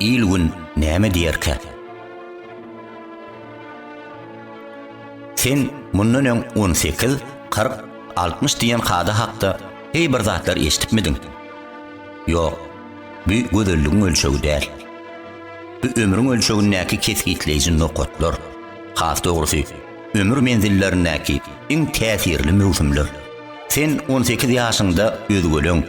Il-gün näme diýerkä? Sen mundan öň on sekiz, kyrk, altmyş diýen kada hakda heý bir zatlar eşidipmidiň? Ýok, bu gözelligiň ölçegi däl. Bu ömrüň ölçegindäki kesgitleýji nokatlar. Has dogrusy, ömür menzillerindäki iň täsirli möwsümler. Sen on sekiz ýaşyňda özgeleň,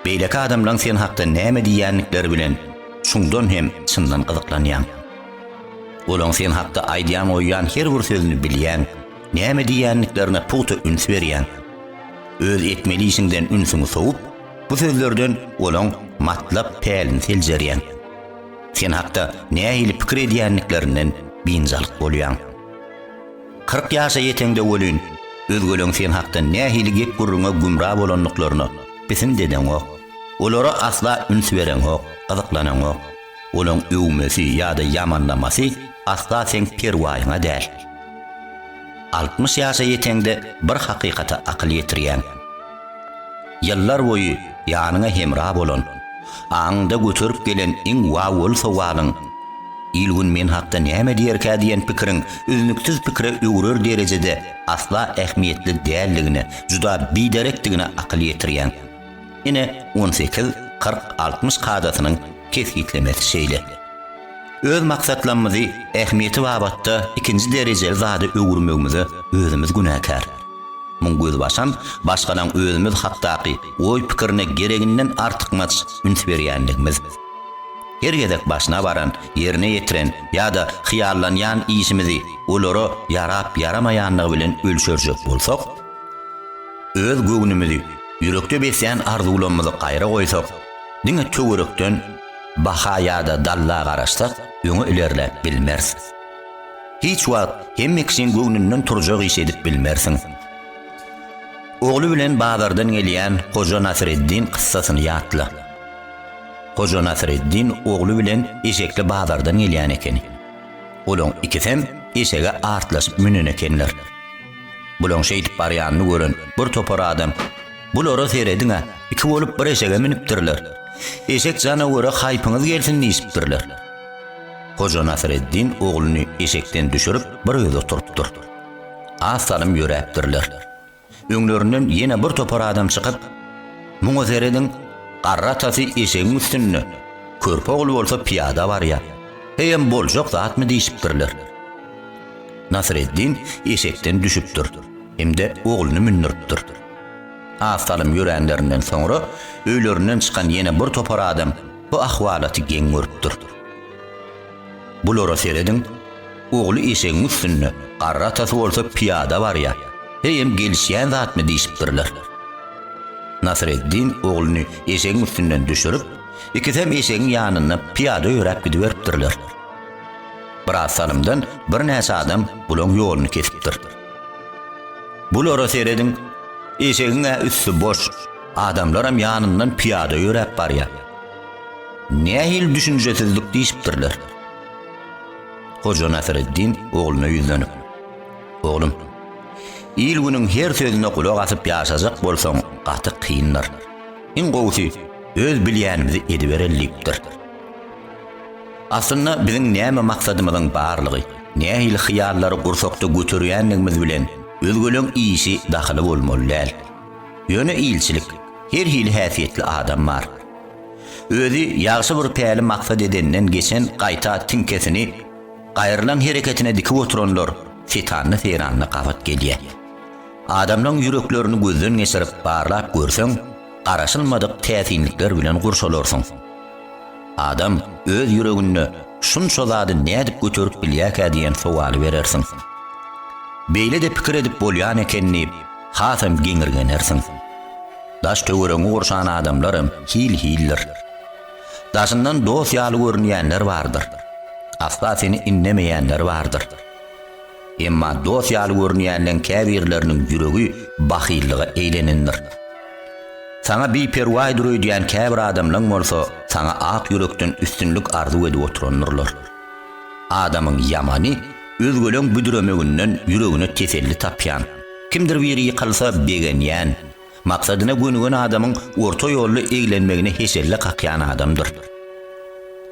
beýleki adamlaň sen hakda näme diýýändikleri bilen çuňdan hem çyndan gyzyklanýaň. Olaň sen hakda aýdýan-goýýan her bir sözüni bilýäň, näme diýýändiklerine pugta üns berýäň. Öz etmeli işiňden ünsüňi sowup, bu sözlerden olaň matlap pälini seljerýäň. Sen hakda nähili pikir edýändiklerinden biynjalyk bolýaň. Kyrk ýaşa ýeteňde welin, özgeleriň sen hakda nähili gep-gürrüňe gümra bolandyklaryna bisin dedeňok. Olara asla üns bereňok, gyzyklanaňok. Olaryň öwmesi ýa-da ýamanlamasy asla seň perwaýyňa däl. Altmyş ýaşa ýeteňde bir hakykata akyl ýetirýäň. Ýyllar boýy ýanyňa hemra bolan, aňyňda göterip gelen iň wawwaly sowalyň, Il-gün men hakda näme diýerkä diýen pikiriň üznüksiz pikire öwrer derejede asla ähmiýetli däldigine, juda biderekdigine akyl ýetirýäň. Ine, on sekiz, kyrk, altmyş kadasynyň kesgitlemesi şeýle, Öz maksatlamyzy ähmiýeti babatda ikinji derejeli zada öwürmegimize özümiz günäkär. Muň gözbaşam başgalaň özümiz hakdaky oý-pikirine gereginden artykmaç üns berýänligimiz. Her gezek başyna baran, ýerine ýetiren ýa-da hyýallanýan işimizi olara ýarap-ýaramaýanlygy bilen ölçerjek bolsak, öz göwnümizi, ýürekde beslän arzuwlamyzy gaýra goýsak, Diňe töwerekden baha ýa-da dalla garaşsak, öňe ilerläp bilmeris. Hiç wagt hemme kişiň göwnünden turjak iş edip bilmersiň. Ogly bilen bazardan gelýän Hoja Nasreddin kyssasyny ýatla. Hoja Nasreddin ogly bilen eşekli bazardan gelýän ekeni. Olaň ikisem eşege artlaşyp münen ekenler. Bulaň şeýdip barýanyny gören bir topar adam Bulara serediň-ä, iki bolup bir eşege münüpdirler. Eşek janawera haýpyňyz gelsin diýşipdirler. Hoja Nasreddin ogluny eşekden düşürip, bir özi oturypdyr. Az salym ýöräpdirler. Öňlerinden ýene bir topar adam çykyp, Muňa serediň, garry atasy eşegiň üstünde, körpe ogly bolsa pyýada barýar. Heýem boljak zatmy diýşipdirler. Nasreddin eşekden düşüpdir hem-de ogluny mündüripdir. Az salym ýöränlerinden soňra öýlerinden çykan ýene bir topar adam bu ahwalaty geň görüpdir. Bulara serediň, ogly eşegiň üstünde, garry atasy bolsa pyýada barýar, heýem gelişýän zatmy diýşipdirler. Nasreddin ogluny eşegiň üstünden düşürip, ikisem eşegiň ýanynda pyýada ýöräp gidiberipdirler. Biraz salymdan birnäçe adam bulaň ýoluny kesipdir. Bulara serediň, eşegiň-ä üsti boş, adamlaram ýanyndan pyýada ýöräp barýar. Nähili düşünjesizlik diýşipdirler. Hoja Nasreddin ogluna ýüzlenip, Oglum, il-günüň her sözüne gulak asyp ýaşajak bolsaň, gaty kyndyr. Iň gowusy, öz bilýänimizi edibereli diýipdir. Aslynda biziň näme maksadymyzyň barlygy, nähili hyýallary gursakda göterýänligimiz bilen özgeleň işi dahyly bolmaly däl. Ýöne ilçilik, her hili häsiýetli adam bar. Özi ýagşy bir päli maksat edenden geçen gaýta tiňkesini gaýrylan hereketine dikip oturanlar setanly-seýranly gabat gelýär. Adamlaň ýüreklerini gözden geçirip barlap görseň, garaşylmadyk täsinlikler bilen gurşalarsyň. Adam öz ýüreginde şunça zady nädip göterip bilýärkä diýen sowaly berersiň. Beýle-de pikir edip bolýan eken diýip, hasam geňirgenersiň. Daş-töweregiňi gurşan adamlaram hil-hildir. Daşyndan dost ýaly görünýänler bardyr. Asla seni indemeýänler bardyr. Emma dost ýaly görünýänleň käbirleriniň ýüregi bahyllyga eýlenendir. Saňa biperwaýdyr öýdýän käbir adamlaň bolsa saňa ak ýürekden üstünlik arzuw edip oturandyrlar. Adamyň ýamany özgeleň büdüremeginden ýüregine teselli tapýan, kimdir biri ýykylsa begenýän, Maksadyna gönügen adamyň orta ýolly eglenmegine heşelle kakýan adamdyr.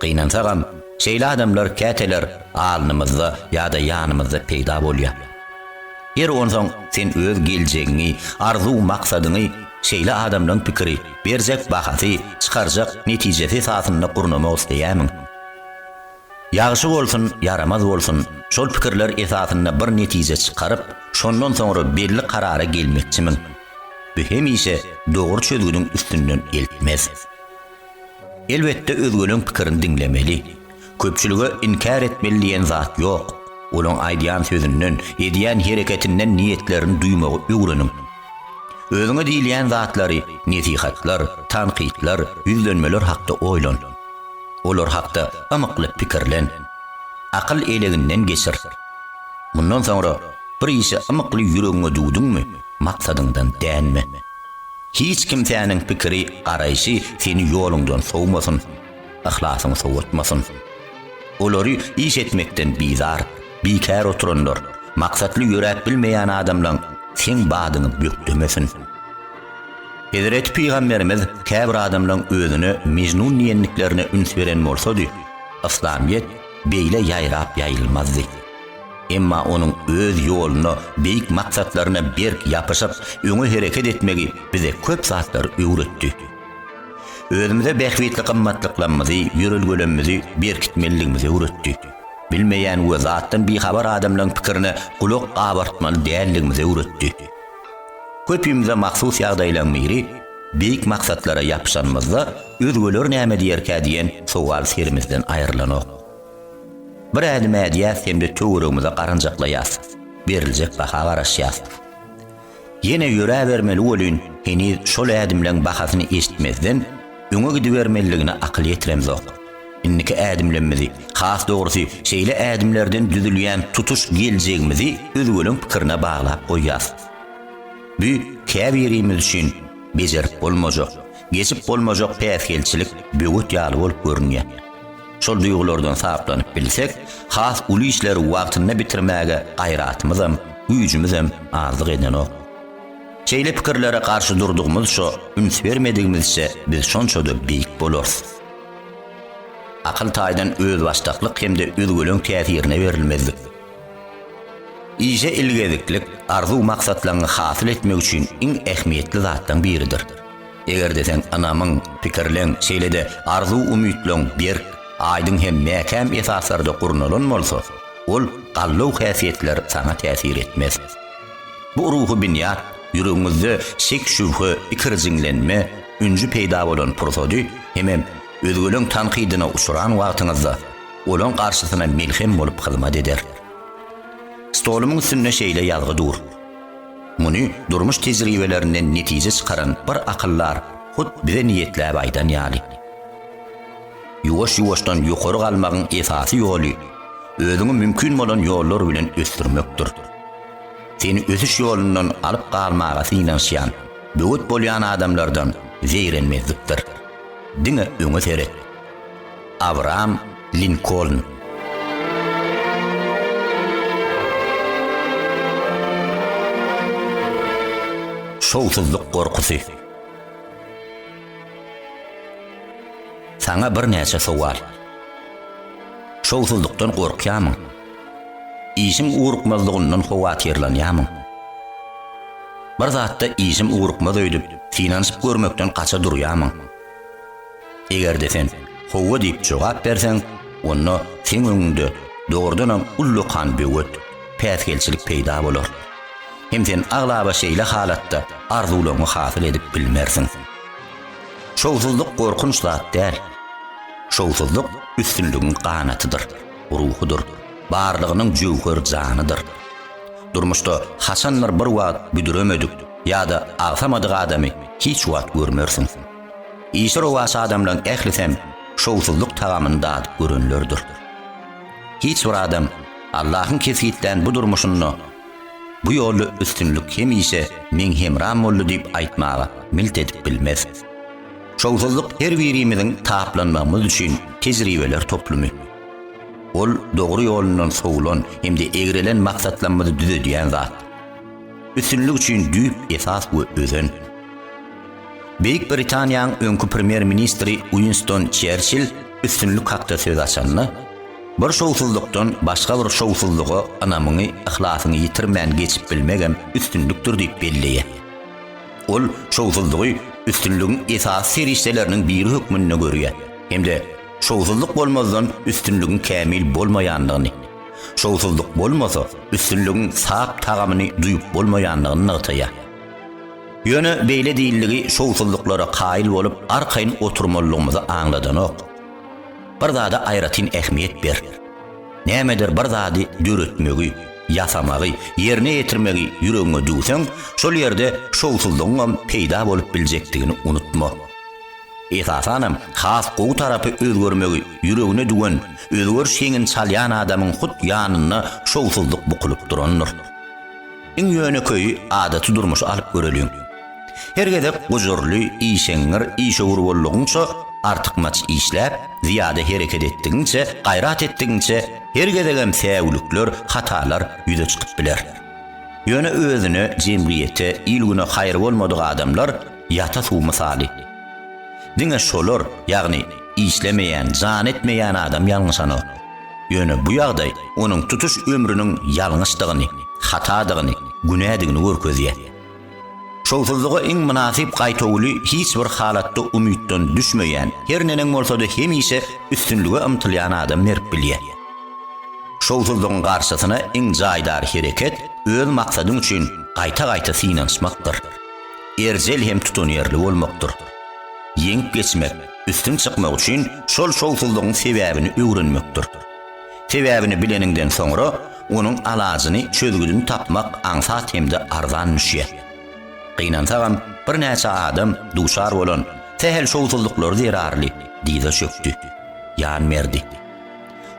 Gynansagam, şeýle adamlar käteler alnymyzda ýa-da ýanymyzda peýda bolýar. Her onsoň sen öz geljegiňi, arzuw-maksadyňy şeýle adamlaň pikiri, berjek bahasy, çykarjak netijesi esasynda gurnamak isleýärmiň? Ýagşy bolsun, ýaramaz bolsun, şol pikirler esasynda bir netije çykaryp, şondan soňra belli karara gelmekçimiň? Bu hemişe dogry çözgüdiň üstünden eltmez. Elbetde özgeleň pikirini diňlemeli. Köpçülige inkär etmeli diýen zat ýok. Olaň aýdýan sözünden, edýän hereketinden niýetlerini duýmagy öwreniň. Özüňe diýilýän zatlary, nesihatlar, tankytlar, ýüzlenmeler hakda oýlan. Olar hakda ymykly pikirlen. Akyl eleginden geçir. Mundan soňra bir işe ymykly ýüregiňe düwdüňmi, maksadyňdan dänme. Hiç kimsäniň pikiri, garaýşy seni ýoluňdan sowmasyn, yhlasyňy sowatmasyn. Olary iş etmekden bizar, bikär oturanlar, maksatly ýöräp bilmeýän adamlaň seň badyňy bökdemesin. Hezreti Pygamberimiz käbir adamlaryň özüne Mejnun diýendiklerine üns beren bolsady, yslamyýet beýle ýaýrap ýaýylmazdy. Emma onuň öz ýoluna, beýik maksatlaryna berk ýapyşyp, öňe hereket etmegi bize köp zatlary öwretdi. Özümize bähbitli gymmatlyklarymyzy, ýörelgelerimizi berkitmelidigimizi öwretdi. Bilmeýän we zatdan bihabar adamlaryň pikirine gulak gabartmaly däldigimizi öwretdi. Köpimize mahsus ýagdaýlaryň biri, beýik maksatlara ýapyşanymyzda özgeler näme diýerkä diýen sowal serimizden aýrylanok. Bir ädim ädýäs hem-de töweregimize garanjaklaýas, beriljek baha garaşýas. Ýene ýöräbermeli welin heniz şol ädimleň bahasyny eşitmezden, öňe gidibermelidigine akyl ýetiremzok. Indiki ädimlemmizi, has dogrusy, şeýle ädimlerden düzülýän tutuş geljegimizi özgeleň pikirine baglap goýýas. Bu käbirimiz üçin bejerip bolmajak, geçip bolmajak päsgelçilik, böwet ýaly bolup görünýär. Şol duýgulardan saplanyp bilsek, has uly işleri wagtynda bitirmäge gaýratymyzam, güýjümizem azlyk edenok. Şeýle pikirlere garşy durdygymyzça, üns bermedigimizçe biz şonça-da beýik bolarys. Akyl taýdan özbaşdaklyk hem-de özgeleň täsirine berilmezlik. Işe ilgeziklik arzuw-maksatlaňňy hasyl etmek üçin iň ähmiýetli zatlaň biridir. Eger-de sen ynamyň, pikirleň, şeýle-de arzuw-umytlaň berk, aýdyň hem mäkäm esaslarda gurnalan bolsa, ol gallaw häsiýetler saňa täsir etmez. Bu ruhy binýat ýüregiňizde şek-şübhe, ikirjiňlenme, ünji peýda bolan pursady hemem özgeleň tankydyna uçran wagtyňyzda olaň garşysyna melhem bolup hyzmat eder. Stolumyň üstünde şeýle ýazgy dur. Muny durmuş tejribelerinden netije çykaran bir akyldar hut bize niýetläp aýdan ýaly. Ýuwaş-ýuwaşdan ýokary galmagyň esasy ýoly, özüňi mümkin bolan ýollar bilen ösdürmekdir. Seni ösüş ýolundan alyp galmaga synanyşýan, böwet bolýan adamlardan zeýrenmezlikdir. Diňe öňe seret. Abraham Linkoln. Şowsuzlyk gorkusy. Saňa birnäçe sowal. Şowsuzlykdan gorkýarmyň? Işiň ugrukmazlygyndan howatyrlanýarmyň? Bir zatda işim ugrukmaz öýdüp, synanyşyp görmekden gaça durýarmyň? Eger-de sen Howwa diýip jogap berseň, onda seň öňüňde dogrudanam ullakan böwet, päsgelçilik peýda bolar. Hem sen aglaba şeýle halatda arzuwlaryňy hasyl edip bilmersiň. Şowsuzlyk gorkunç zat däl. Şowsuzlyk üstünligiň ganatydyr. ruhudyr, barlygynyň jöwher janydyr. Durmuşda haçandyr bir wagt büdüremedik ýa-da agsamadyk adamy hiç wagt görmersiň. Işi rowaç adamlaň ählisem şowsuzlyk tagamyny dadyp görenlerdir. Hiç bir adam Allahyň kesgitlän bu durmuşynda Bu ýolda üstünlik hemişe meň hemram boldy diýip aýtmaga milt edip bilmez. Şowsuzlyk her birimiziň taplanmagymyz üçin tejribeler toplumy. Ol dogry ýolundan sowulan hem-de egrelen maksatlamyzy düzedýän zat. Üstünlik üçin düýp esas we özen. Beýik Britaniýaň öňki premýer-ministri Uinston Çerçill üstünlik hakda söz açanda, Bir şowsuzlykdan başga bir şowsuzlyga ynamyňy, yhlasyňy ýitirmän geçip bilmegem üstünlikdir diýip belleýär. Ol şowsuzlygy üstünligiň esasy serişdeleriniň biri hökmünde görýär hem-de şowsuzlyk bolmazdan üstünligiň kämil bolmaýandygyny, şowsuzlyk bolmasa, üstünligiň sap tagamyny duýup bolmaýandygyny nygtaýar. Ýöne beýle diýildigi şowsuzlyklara kaýyl bolup arkaýyn oturmalydygymyzy aňladanok. Bir zada aýratyn ähmiýet ber. Nämedir bir zady döretmegi, ýasamagy, ýerine ýetirmegi ýüregiňe düwseň, şol ýerde şowsuzlygyňam peýda bolup biljekdigini unutma. Esasanam, has gowy tarapy özgermegi ýüregine düwen, özgeriş heňini çalýan adamyň hut ýanynda şowsuzlyk bukulyp durandyr. Iň ýönekeýi adaty durmuşy alyp göreliň. Her gezek gujurly, işeňňir, işewür boldugyňça, artykmaç işläp, zyýada hereket etdigiňçe, gaýrat etdigiňçe, her gezegem säwlikler, hatalar ýüze çykyp biler. Ýöne özüne, jemgyýete, il-güne haýry bolmadyk adamlar ýata suw mysaly. Diňe şolar, ýagny işlemeýän, jan etmeýän adam ýalňyşanok. Ýöne bu ýagdaý onuň tutuş ömrüniň ýalňyşdygyny, hatadygyny, günädigini görkezýär. Şowsuzlyga iň mynasyp gaýtawuly hiç bir halatda umytdan düşmeýän, her neneň bolsada hemişe üstünlige ymtylýan adam berip bilýär. Şowsuzlygyň garşysyna iň jaýdar hereket öz maksadyň üçin gaýta-gaýta synanyşmakdyr. Erjel hem tutanýerli bolmakdyr. Ýeňip geçmek. Üstün çykmak üçin şol şowsuzlygyň sebäbini öwrenmekdir. Sebäbini bileniňden soňra, onuň alajyny, çözgüdini tapmak aňsat hem-de arzan düşýär. Gynansagam, birnäçe adam duşar bolan sähel şowsuzlyklary zerarly dyza çökdi, ýan berdi.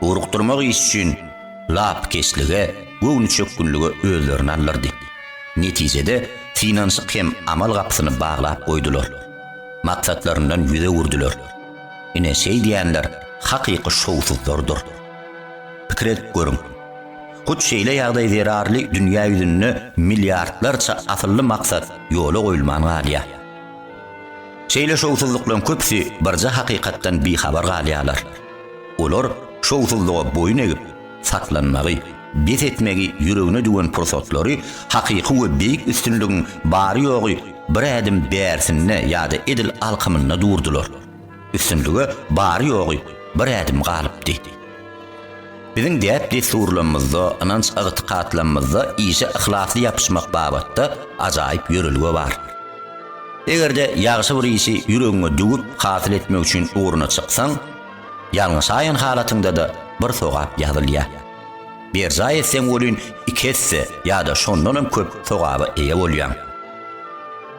Ugrukdyrmak iş üçin lapykeçlige, göwnüçökgünlige özlerini aldyrdy. Netijede, synanyşyk hem amal gapysyny baglap goýdular. Maksatlaryndan ýüz öwürdiler. Ine, şeýdýänler hakyky şowsuzlardyr. Pikir edip görüň. Hut şeýle ýagdaý zerarly dünýä ýüzünde milliardlarça asylly maksat ýola goýulman galýar. Şeýle şowsuzlyklaryň köpüsi birje hakykatdan bihabar galýarlar. Olar şowsuzlyga boýun egip, saklanmagy, bes etmegi ýüregine düwen pursatlary hakyky we beýik üstünligiň bary-ýogy bir ädim bärsinde ýa-da edil alkymynda durdular. Üstünlige bary-ýogy bir ädim galypdy. Biziň däp-dessurlamymyzda, ynanç-ygtykatlamymyzda işe yhlasly ýapyşmak babatda ajaýyp ýörelge bar. Eger-de ýagşy bir işi ýüregiňe düwüp, hasyl etmek üçin ugruna çyksaň, Ýalňyşaýan halatyňda-da bir sogap ýazylýar. Berjaý etseň welin iki esse ýa-da şondanam köp sogaba eýe bolýaň.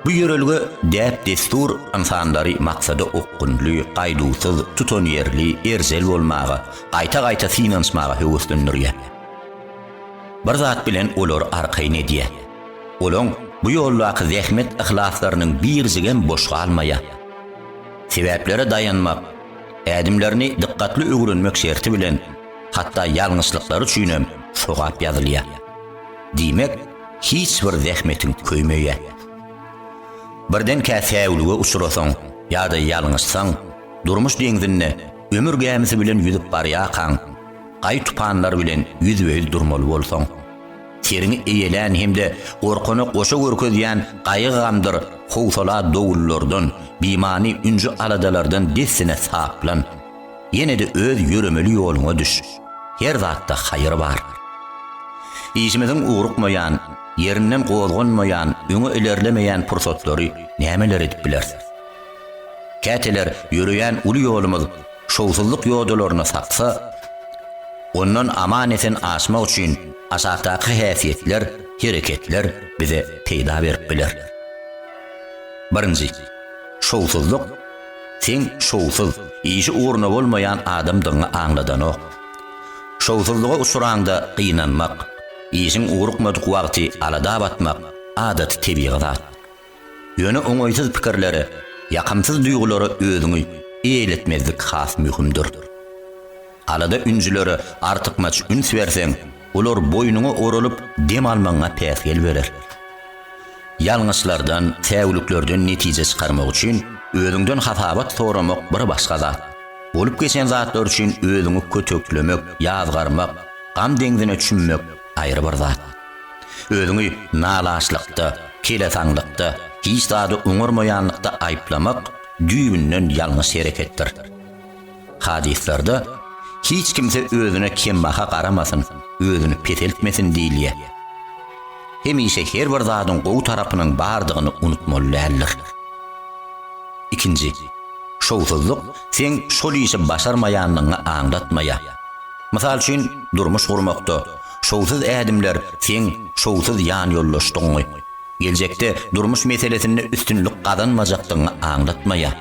Bu ýörelge, däp-dessur ynsanlary maksada okgunly, gaýduwsyz, tutanýerli, erjel bolmaga, gaýta-gaýta synanyşmaga höweslendirýär. Bir zat bilen olary arkaýyn edýär. Olaň bu ýoldaky zähmet-yhlaslarynyň birjigem boş galmaýar. Sebäplere daýanmak, Ädimlerini dykgatly öwrenmek şerti bilen, hatda ýalňyşlyklary üçin hem sogap ýazylýar. Diýmek, hiç bir zähmetiň köýmeýär. Birdenkä säwlige uçrasaň ýa-da ýalňyşsaň, durmuş deňzinde ömür gämisi bilen ýüzüp barýarkaň, gaý-tupanlar bilen ýüzbe-ýüz durmaly bolsaň, Seriňi eýelän hem-de gorkana goşa görkezýän gaýgy-gamdyr howsala dowullardan, bimany ünji-aladalardan dessine saplan. Ýene-de öz ýöremeli ýoluňa düş. Her zatda haýyr bar. Işimiziň ugrukmaýan, ýerinden gozganmaýan, öňe ilerlemeýän pursatlary nämeler edip bileris? Käteler ýöreýän uly ýolumyz şowsuzlyk ýodalaryny saksa, ondan aman-esen aşmak üçin aşakdaky häsiýetler, hereketler bize peýda berip biler. Birinji, şowsuzlyk seň şowsuz, işi ugruna bolmaýan adamdygyňy aňladanok. Şowsuzlyga uçraňda gynanmak, işiň ugrukmadyk wagty alada batmak adaty tebigy zat. Ýöne oňaýsyz pikirlere, ýakymsyz duýgulara özüňi eýletmezlik has möhümdir. Alada-ünjülere artykmaç üns berseň, olar boýnuňa oralyp, dem almagyňa päsgel berer. Ýalňyşlardan, säwliklerden netije çykarmak üçin özüňden hasabat soramak bir başga zat. Bolup geçen zatlar üçin özüňi köteklemek, ýazgarmak, gam deňzine çümmek, Aýry bir zat. Özüňi nalaşlykda, kelesaňlykda, hiç zady oňarmaýanlykda aýyplamak düýbünden ýalňyş hereketdir. Hadyslarda, Hiç kimse özüne kembaha garamasyn, özüni peseltmesin diýilýär. Hemişe her bir zadyň gowy tarapynyň bardygyny unutmaly däldir. Ikinji. Şowsuzlyk seň şol işi başarmaýanlygyňy aňlatmaýar. Mysal üçin, durmuş gurmakda, şowsuz ädimler seň şowsuz ýanýoldaşdygyňy, geljekde durmuş meselesinde üstünlik gazanmajakdygyňy aňlatmaýar.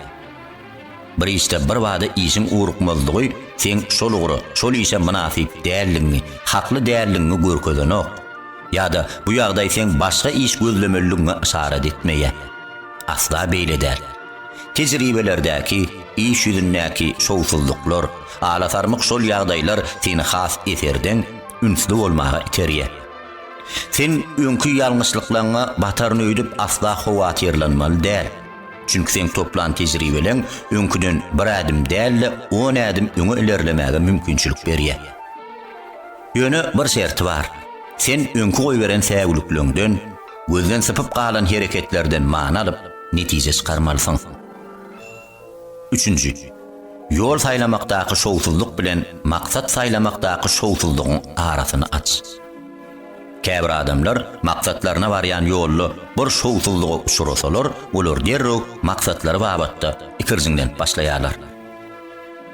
Bir işde birbada işiň ugrukmazlygy seň şol ugra, şol işe mynasyp däldigiňi, hakly däldigiňi görkezenok. Ýa-da bu ýagdaý seň başga iş gözlemelidigiňe yşarat etmeýär. Asla beýle däl. Tejribelerdäki, iş ýüzündäki şowsuzlyklar, alasarmyk şol ýagdaýlar seni has eserdeň, ünsli bolmaga iterýär. Sen öňki ýalňyşlyklaňňa bataryn öýdüp asla howatyrlanmaly däl. Çünki seň toplan tejribeleň öňküden bir ädim däl-de on ädim öňe ilerlemäge mümkinçilik berýär. Ýöne bir şerti bar, sen öňki goýberen säwlikleňden, Gözden sypyp galan hereketlerden many alyp, netije çykarmalysyň. Üçünji. Ýol saýlamakdaky şowsuzlyk bilen maksat saýlamakdaky şowsuzlygyň arasyny aç. Käbir adamlar maksatlaryna barýan ýolda bir şowsuzlyga uçrasalar, olar derrew maksatlary babatda ikirjiňlenip başlaýarlar.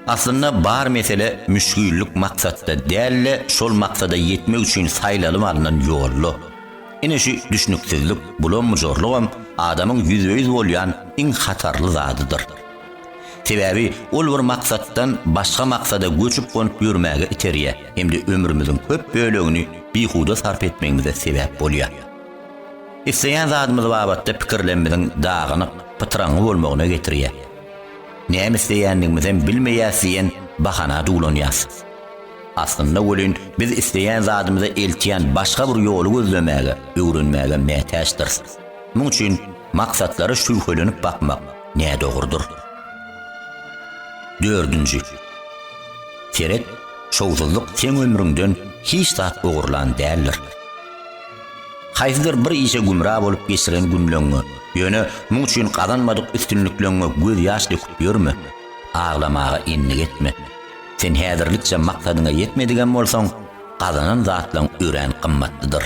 Aslynda bar mesele müşgillik maksatda däl-de, şol maksada ýetmek üçin saýlalyp alnan ýolda. Ine şu düşnüksizlik, bulam-bujurlygam adamyň ýüzbe-ýüz bolýan iň hatarly zadydyr. Sebäbi ol bir maksatdan başga maksada göçüp-gonup ýörmäge iterýär hem-de ömrümiziň köp bölegini bihuda sarp etmegimize sebäp bolýar. Isleýän zadymyz babatda pikirlerimiziň dagynyk, pytraňňy bolmagyna getirýär. Näme isleýändigimizem bilmeýäs diýen bahana duwlanýarys. Aslynda welin, biz isleýän zadymyza eltýän başga bir ýoly gözlemäge, öwrenmäge mätäçdiris. Muň üçin maksatlara şübhelenip bakmak nädogrudyr. Dördünji. Seret, şowsuzlyk seň ömrüňden hiç zat ogurlan däldir. Haýsydyr bir işe gümra bolup geçiren günleňňe, ýöne muň üçin gazanmadyk üstünlikleňňe gözýaş döküp ýörme, aglamaga endik etme. Sen häzirlikçe maksadyňa ýetmedigem bolsaň, gazanan zatlaň örän gymmatlydyr.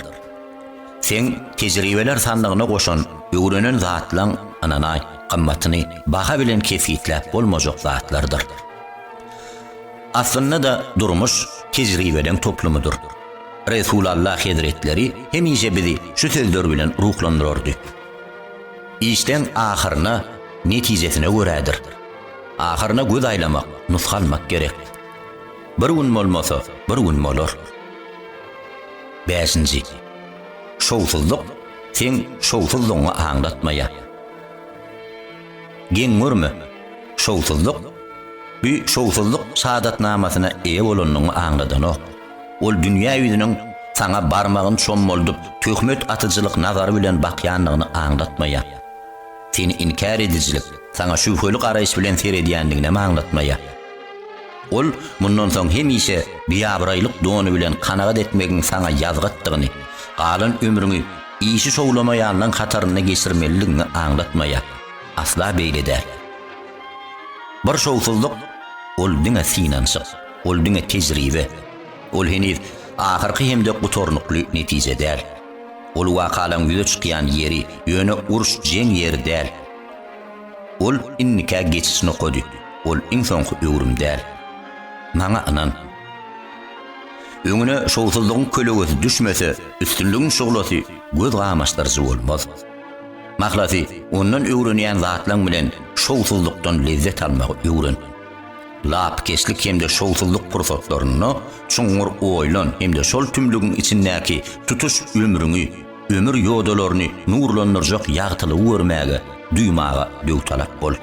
Seň tejribeler sandygyna goşan, öwrenen zatlaň, ynanaý, gymmatyny baha bilen kesgitläp bolmajak zatlardyr. Aslynda-da durmuş tejribeleň toplumydyr. Resulalla hezretleri hemişe bizi şu sözler bilen ruhlandyrardy, Işleň ahyryna, netijesine görädir. Ahyryna göz aýlamak, nusgalmak gerek. Bir gün bolmasa, bir gün bolar. Bäşinji. Şowsuzlyk seň şowsuzlygyňy aňlatmaýar. Geň görme, şowsuzlyk bu şowsuzlyk şadatnamasyna eýe bolanyňy aňladanok. Ol dünýä ýüzüniň saňa barmagyn çommaldyp, töhmet atyjylyk nazary bilen bakýandygyny aňlatmaýar. Seni inkär edijilik saňa şübheli garaýyş bilen seredýändiginem aňlatmaýar. Ol mundan soň hemişe biabraýlyk dony bilen kanagat etmegiň saňa ýazgatdygyny, galan ömrüňi işi şowlamaýanlaň hatarynda geçirmelidigiňi aňlatmaýar. Asla beýle däl. Bir şowsuzlyk, ol diňe synanyşyk, ol diňe tejribe. Ol heniz ahyrky hem-de gutarnykly netije däl. Ol wakalaryň ýüze çykýan ýeri, ýöne uruş-jeň ýeri däl. Ol indikä geçiş nokady, ol iň soňky öwrüm däl. Maňa ynan. Öňüne şowsuzlygyň kölegesi düşmese, üstünligiň şuglasy göz gamaşdyryjy bolmaz. Mahlasy, ondan öwrenýän zatlaryň bilen şowsuzlykdan lezzet almagy öwren. Lapykeçlik hem-de şowsuzlyk pursatlarynda çuňňur oýlan hem-de şol tümlügiň içindäki tutuş ömrüňi, ömür ýodalaryny nurlandyrjak ýagtylygy görmäge, duýmaga döwtalap bol.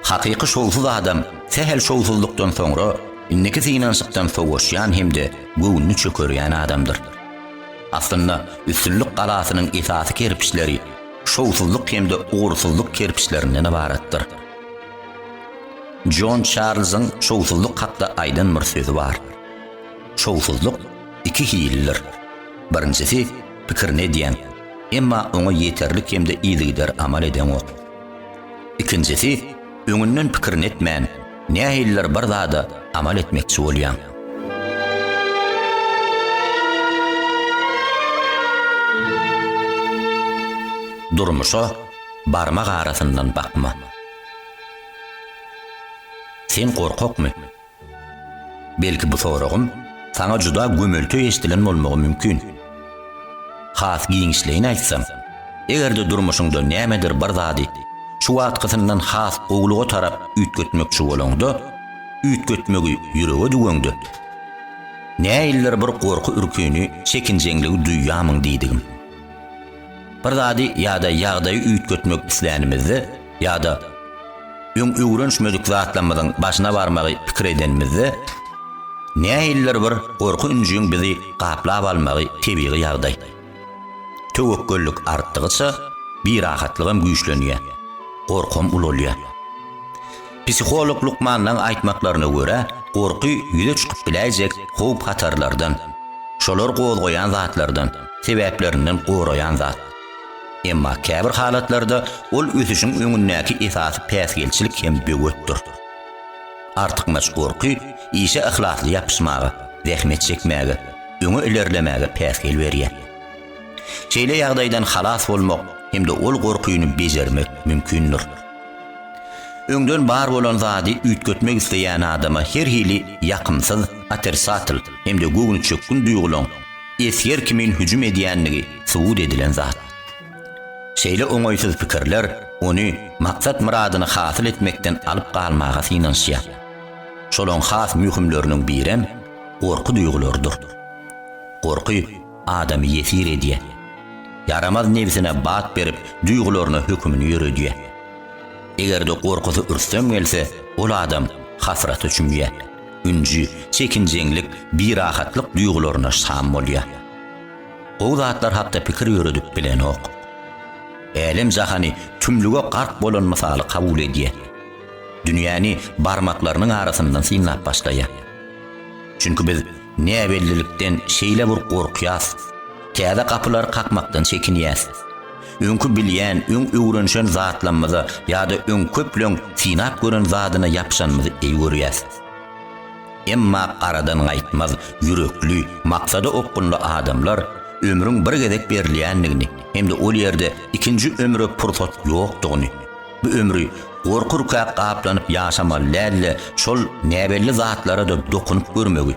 Hakyky şowsuz adam sähel şowsuzlykdan soňra, indiki synanyşykdan sowaşýan hem-de göwnüni çökerýän adamdyr. Aslynda, üstünlik galasynyň esasy kerpiçleri, şowsuzlyk hem-de ugursyzlyk kerpiçlerinden ybaratdyr. Jon Çarlzyň şowsuzlyk hakda aýdan bir sözi bar. Şowsuzlyk iki hillidir. Birinjisi pikirini edýän, emma oňa ýeterlik hem-de yzygider amal edeňok. Ikinjisi öňünden pikirini etmän, Nähilidir bir zada amal etmekçi bolýaň. Durmuşa barmak arasyndan bakma. Sen gorkakmy? Belki bu soragym saňa juda gömeltü eşdilen bolmagy mümkin. Has giňişleýin aýtsam, eger-de durmuşyňda nämedir bir zady şu wagtkysyndan has gowulyga tarap üýtgetmekçi bolaňda, üýtgetmegi ýürege düwäňde, näildir bir gorky-ürkini, çekinjeňligi duýýarmyň diýdigim. Bir zady ýa-da ýagdaýy üýtgetmek islänimizde, Ýa-da öň öwrenişmedik zatlarymyzyň başyna barmagy pikir edenimizde, nähilidir bir gorky-ünjüň bizi gaplap almagy tebigy ýagdaý. Töwekgellik artdygyça, birahatlygam güýçlenýär, gorkam ulalýar. Psiholog lukmanlaryň aýtmaklaryna görä, gorky ýüze çykyp biläýjek howp-hatarlardan, şolar gozgaýan zatlardan, sebäplerinden goraýan zat. Emma käbir halatlarda ol ösüşiň öňündäki esasy päsgelçilik hem böwetdir. Artykmaç gorky işe yhlasly ýapyşmaga, zähmet çekmäge, öňe ilerlemäge päsgel berýär. Şeýle ýagdaýdan halas bolmak hem-de ol gorkyny bejermek mümkindir. Öňden bar bolan zady üýtgetmek isleýän adama her hili ýakymsyz, otricatl, hem-de göwnüçökgün duýgulaň esger kimin hüjüm edýändigi subut edilen zat. Şeýle oňaýsyz pikirler ony maksat-myradyny hasyl etmekden alyp galmaga synanyşýar. Şolaň has möhümleriniň birem gorky duýgularydyr. Gorky adamy ýesir edýär. Ýaramaz nebsine bat berip, duýgularyna hökümini ýöredýär. Eger-de gorkusy ürstem gelse, ol adam hasrata çümýär. ünji, çekinjeňlik, birahatlyk duýgularyna şam bolýar. Gowy zatlar hakda pikir ýöredip bilenok. Älem-jahany tümlüge gark bolan mysaly kabul edýär. Dünýäni barmaklarynyň arasyndan synlap başlaýar. Çünki biz näbellilikden şeýle bir gorkýas, täze gapylary kakmakdan çekinýäs. Öňki bilýän, öň öwrenişen zatlamyza ýa-da öň köpleň synap gören zadyna ýapyşanymyzy eý görýäs. Emma garadan gaýtmaz ýürekli, maksada okgunly adamlar ömrüň bir gezek berilýändigini hem-de ol ýerde ikinji ömre pursat ýokdugyny, bu ömri gorkurka gaplanyp ýaşamaly däl-de, şol näbelli zatlara-da dokunyp görmegi,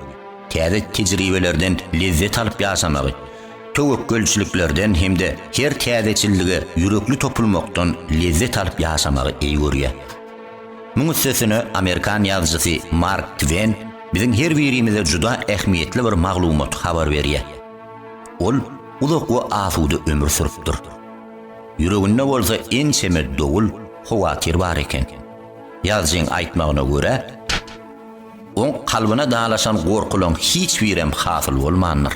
täze tejribelerden lezzet alyp ýaşamagy, töwekgelçiliklerden hem-de her täzeçillige ýürekli topulmakdan lezzet alyp ýaşamagy eý görýär. Muň üstesine, amerikan ýazyjysy Mark Twen biziň her birimize juda ähmiýetli bir maglumaty habar berýär. Ol uzak we asuda ömür sürüpdir. Ýüreginde bolsa ençeme dowul, howatyr bar eken. Ýazyjyň aýtmagyna görä, oň kalbyna dalaşan gorkulaň hiç birem hasyl bolmandyr.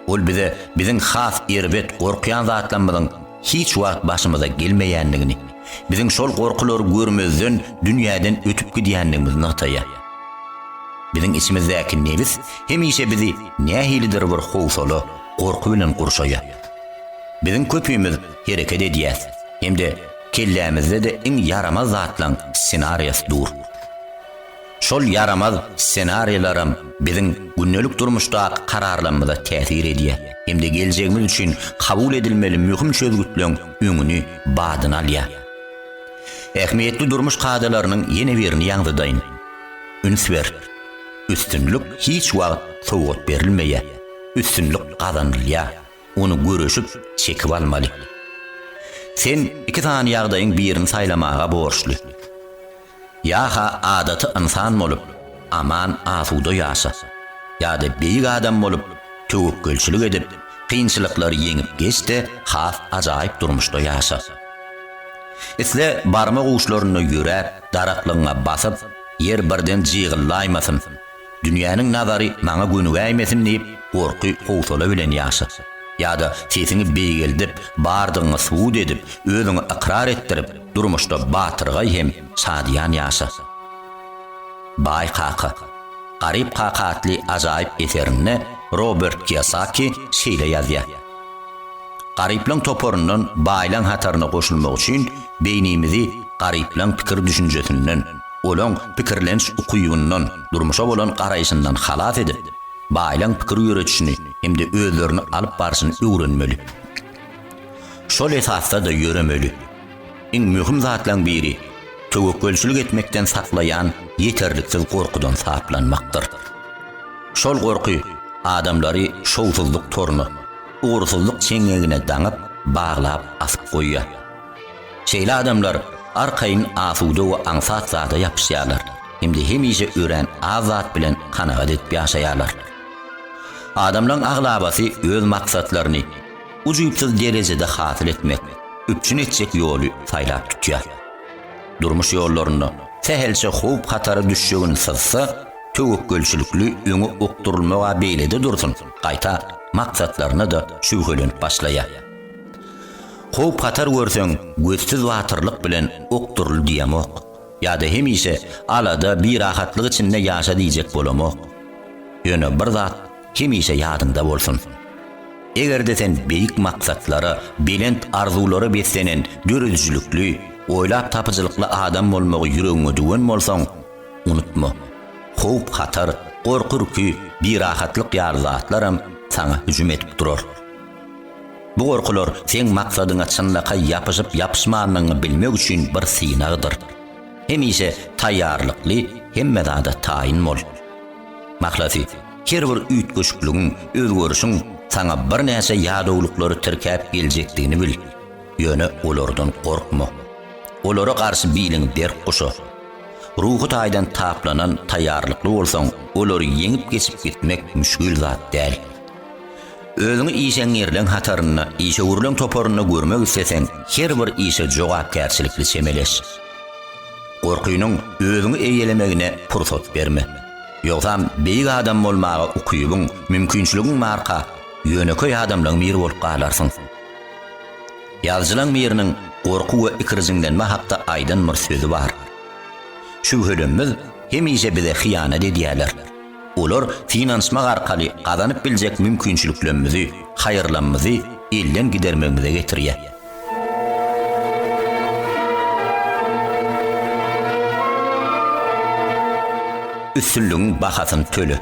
Ol bize biziň has erbet gorkýan zatlarymyzyň hiç wagt başymyza gelmeýändigini, biziň şol gorkulary görmezden dünýäden ötüp gidýändigimizi nygtaýar. Biziň içimizdäki nebis hemişe bizi nähilidir bir howsala, gorky bilen gurşaýar. Biziň köpimiz hereket edýäs hem-de kellämizde-de iň ýaramaz zatlaryň ssenariýasy dur. Şol ýaramaz ssenariýlaram biziň gündelik durmuşdaky kararlarymyza täsir edýär hem-de geljegimiz üçin kabul edilmeli möhüm çözgütleň öňüni, badyny alýar. Ähmiýetli durmuş kadalarynyň ýene birini ýaňzydaýyn. Üns ber! Üstünlik hiç wagt sowgat berilmeýär. Üstünlik gazanylýar. Ony göreşip, çekip almaly. Sen iki sany ýagdaýyň birini saýlamaga borçly. Ýa-ha adaty ynsan bolup, aman-asuda ýaşa. Ýa-da beýik adam bolup, töwekgelçilik edip, kynçylyklary ýeňip geç-de, has ajaýyp durmuşda ýaşa. Isle barma guşlarynda ýöräp, daraklygyňa basyp, ýer birden jygyllaýmasyn. Dünýäniň nazary maňa gönügäýmesin diýip, gorky, howsala bilen ýaşa. Ýa-da sesiňi beýgeldip, bardygyňy subut edip, özüňi ykrar etdirip, durmuşda batyrgaý hem şadyýan ýaşa. Baý kaka. Garyp kaka atly ajaýyp eserinde Robert Kiýosaki şeýle ýazýar. Garyplaň toparyndan baýlaň hataryna goşulmak üçin beýnimizi garyplaň pikir-düşünjesinden, olaň pikirlenç ukybyyndan, durmuşa bolan garaýşyndan halas edip, baýlaň pikir ýöredişini hem-de özlerini alyp barşyny öwrenmeli. Şol esasda-da ýöremeli. Iň möhüm zatlaryň biri, töwekgelçilik etmekden saklaýan ýeterliksiz gorkudan saplanmakdyr. Şol gorky adamlary şowsuzlyk toruna, ugursyzlyk çeňňegine daňyp, baglap, asyp goýýar. Şeýle adamlar arkaýyn asuda we aňsat zada ýapyşýarlar hem-de hemişe örän az zat bilen kanagat edip ýaşaýarlar. Adamlaryň aglabasy öz maksatlaryny, ujypsyz derejede hasyl etmek, üpjün etjek ýoly saýlap tutýar. Durmuş ýollarynda sähelçe howp-hatara düşjegini syzsa, töwekgelçilikli öňe okdurylmagy-a beýlede dursun, gaýta maksatlaryna-da şübhelenip başlaýar. Howp-hatar görseň, gözsüz batyrlyk bilen okduryl diýemok. Ýa-da hemişe alada, birahatlyk içinde ýaşa diýjek bolamok. Ýöne bir zat Hemişe ýadyňda bolsun. Eger-de sen beýik maksatlara, belent arzuwlara beslenen döredijilikli, oýlap tapyjylykly adam bolmagy ýüregiňe düwen bolsaň, unutma, howp-hatar, gorky-ürki, birahatlyk ýaly zatlaram saňa hüjüm edip durar. Bu gorkular seň maksadyňa çynlakaý ýapyşyp-ýapyşmanlygyňy bilmek üçin bir synagdyr. Hemişe taýýarlykly, hemme zada taýyn bol. Mahlasy, Her bir üýtgeşikligiň, özgerişiň saňa birnäçe ýadawlyklary tirkäp geljekdigini bil, ýöne olardan gorkma. Olara garşy biliňi berk guşa. Ruhy taýdan taplanan, taýýarlykly bolsaň, olary ýeňip geçip gitmek müşgil zat däl. Özüňi işeňňirleň hatarynda, işewürleň toparynda görmek isleseň, her bir işe jogapkärçilikli çemeleş. Gorkynyň özüňi eýelemegine pursat berme. Ýogsam beýik adam bolmaga ukybyň, mümkinçiligiň barka, ýönekeý adamlaň biri bolup galarsyň. Ýazyjylaň biriniň gorky we ikirjiňlenme hakda aýdan bir sözi bar. Şübhelenmez hemişe bize hyýanat edýärler. Olar synanyşmak arkaly gazanyp biljek mümkinçiliklemmizi, haýyrlanmyzy elden gidermegimize getirýär. Üstünligiň bahasyny töle.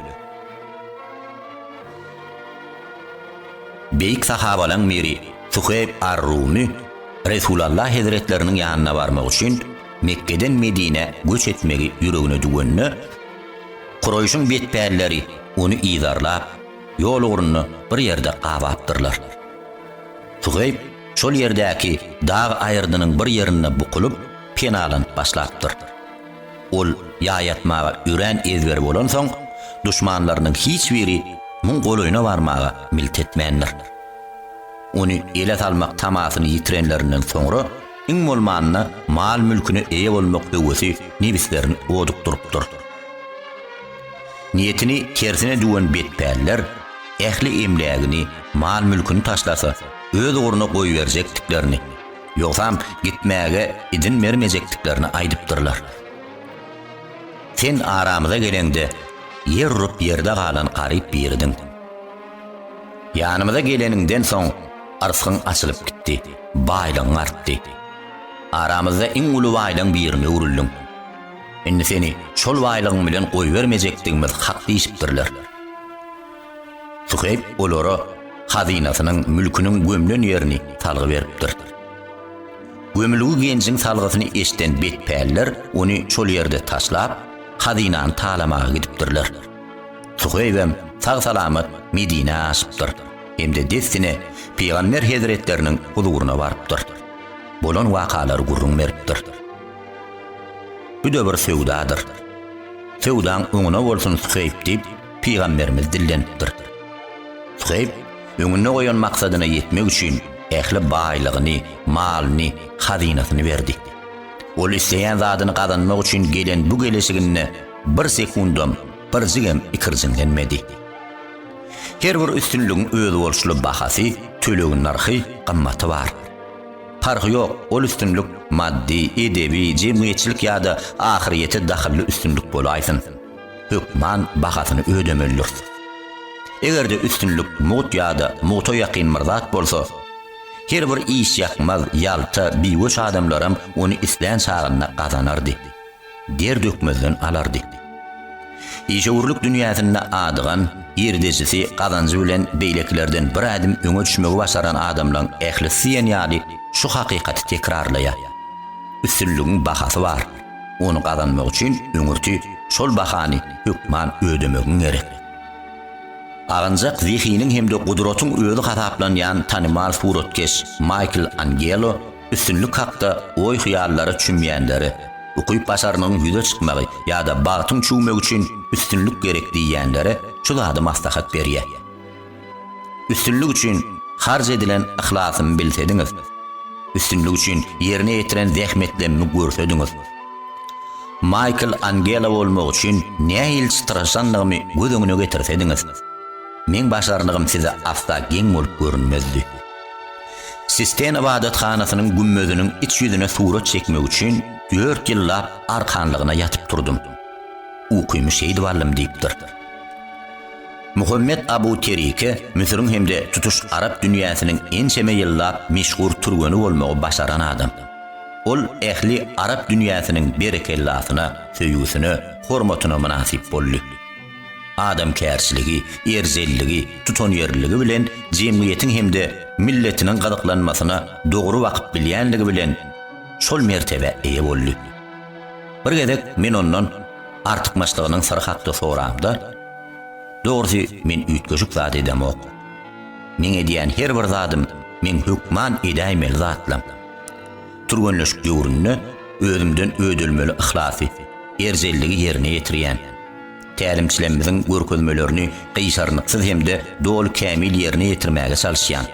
Beýik sahabalaň biri Suheýb ar-Rumy Resulalla hezretleriniň ýanyna barmak üçin Mekgeden Medinä göç etmegi ýüregine düwende, Kuraýşyň betpälleri ony yzarlap, ýol ugrunda bir ýerde gabapdyrlar. Suheýb şol ýerdäki dag aýyrdynyň bir ýerinde bukulyp, penalanyp başlapdyr. Ol ýaýatmaga örän ezberi bolansoň, duşmanlarynyň hiç biri muň golaýyna barmaga milt etmändir. Ony ele salmak tamasyny ýitirenlerinden soňra, iň bolmanda mal-mülküne eýe bolmak höwesi nebislerini odukdyrypdyr. Niýetini tersine düwen betpäller ähli emlägini, mal-mülküni taşlasa, öz ugruna goýberjekdiklerini, ýogsam gitmäge idin bermejekdiklerini aýdypdyrlar. Sen aramyza geleňde, ýer urup ýerde galan garyp biridiň. Ýanymyza geleniňden soň, yrsgyň açylyp gitdi, baýlygyň artdy. Aramyzda iň uly baýlygyň birine öwrüldiň. Indi seni şol baýlygyň bilen goýbermejekdigimiz hak diýşipdirler. Suheýb olara hazynasynyň, mülküniň gömlen ýerini salgy beripdir. Gömülgi genjiň salgysyny eşden betpäller ony şol ýerde taşlap, hazynany talamaga gidipdirler. Suheýbem sag-salamat Medinä aşypdyr hem-de dessine Pygamber hezretleriniň huzuryna barypdyr. Bolan wakalary gürrüň beripdir. Bu-da bir söwdadyr. Söwdaň oňuna bolsun Suheýp diýip, pygamberimiz dillenipdir. Suheýp öňünde goýan maksadyna ýetmek üçin ähli baýlygyny, malyny, hazynasyny berdi. Ol isleýän zadyny gazanmak üçin gelen bu geleşiginde bir sekundam, birjigem ikirjiňlenmedi. Her bir üstünligiň özboluşly bahasy, tölegi, nyrhy, gymmaty bar. Parhy ýok, ol üstünlik maddy, edebi, jemgyýetçilik ýa-da ahyryýete dahylly üstünlik bolaýsyn, hökman bahasyny ödemelidiris. Eger-de üstünlik mugt ýa-da mugta ýakyn bir zat bolsa, her bir işýakmaz, ýalta, biweş adamlaram ony islän çagynda gazanardy. der dökmezden alardy. Işewürlik dünýäsinde adygan, girdejisi, gazanjy bilen beýlekilerden bir ädim öňe düşmegi başaran adamlaryň ählisi diýen ýaly şu hakykaty tekrarlaýar. Üstünligiň bahasy bar. Ony gazanmak üçin öňürti şol bahany hökman ödemegiň gerek. Aganjak zehiniň hem-de gudratyň özi hasaplanýan tanymal suratkeş Maýkl Angelo Üstünlik hakda oý-hyýallara çümýänlere, ukyp-başarnygyň ýüze çykmagy ýa-da bagtyň çüwmegi üçin üstünlik gerek diýýänlere şu zady maslahat berýär. Üstünlik üçin harç edilen yhlasymy bilsediňiz, üstünlik üçin ýerine ýetiren zähmetlemimi görsediňiz, Maýkl Angela bolmak üçin nähili çytraşanlygymy göz öňüne getirsediňiz, meň başarnygym size asla geň bolup görünmezdi. Sistena ybadathanasynyň gümmeziniň iç ýüzüne surat çekmek üçin dört ýyllap arkanlygyna ýatyp turdum. Ukymy şeýdip aldym diýipdir. Muhammet Abu Terike Müsüriň hem-de tutuş arap dünýäsiniň ençeme ýyllap meşhur türgeni bolmagy başaran adam. Ol ähli arap dünýäsiniň berekellasyna, söýgüsine, hormatyna mynasyp boldy. adamkärçiligi, erjelligi, tutanýerliligi bilen jemgyýetiň hem-de milletiniň gyzyklanmasyna dogry bakyp bilýänligi bilen şol mertebä eýe boldy. Bir gezek men ondan artykmaçlygynyň syry hakda soramda, Dogrusy, men üýtgeşik zat edemok. Meň edýän her bir zadym meň hökman edäýmeli zatlam. Türgenleşik döwründe özümden ödelmeli yhlasy, erjelligi ýerine ýetirýän. Tälimçilerimiziň görkezmelerini gyşarnyksyz hem-de doly kämil ýerine ýetirmäge çalyşýan.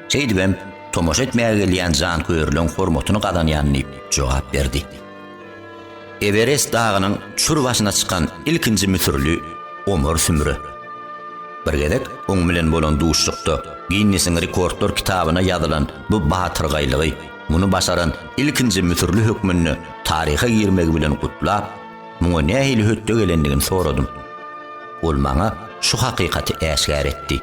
Şeýdibem, tomaşa etmäge gelýän janköýerleň hormatyny gazanýan diýip jogap berdi. Ewerest dagynyň çür başyna çykan ilkinji müsürli Omar Sümre. Bir gezek oň bilen bolan duşuşykda Ginnesiň rekordlar kitabyna ýazylan bu batyrgaýlygy, muny başaran ilkinji müsürli hökmünde taryha girmegi bilen gutlap, muňa nähili hötde gelendigini soradym. Ol maňa şu hakykaty äşgär etdi.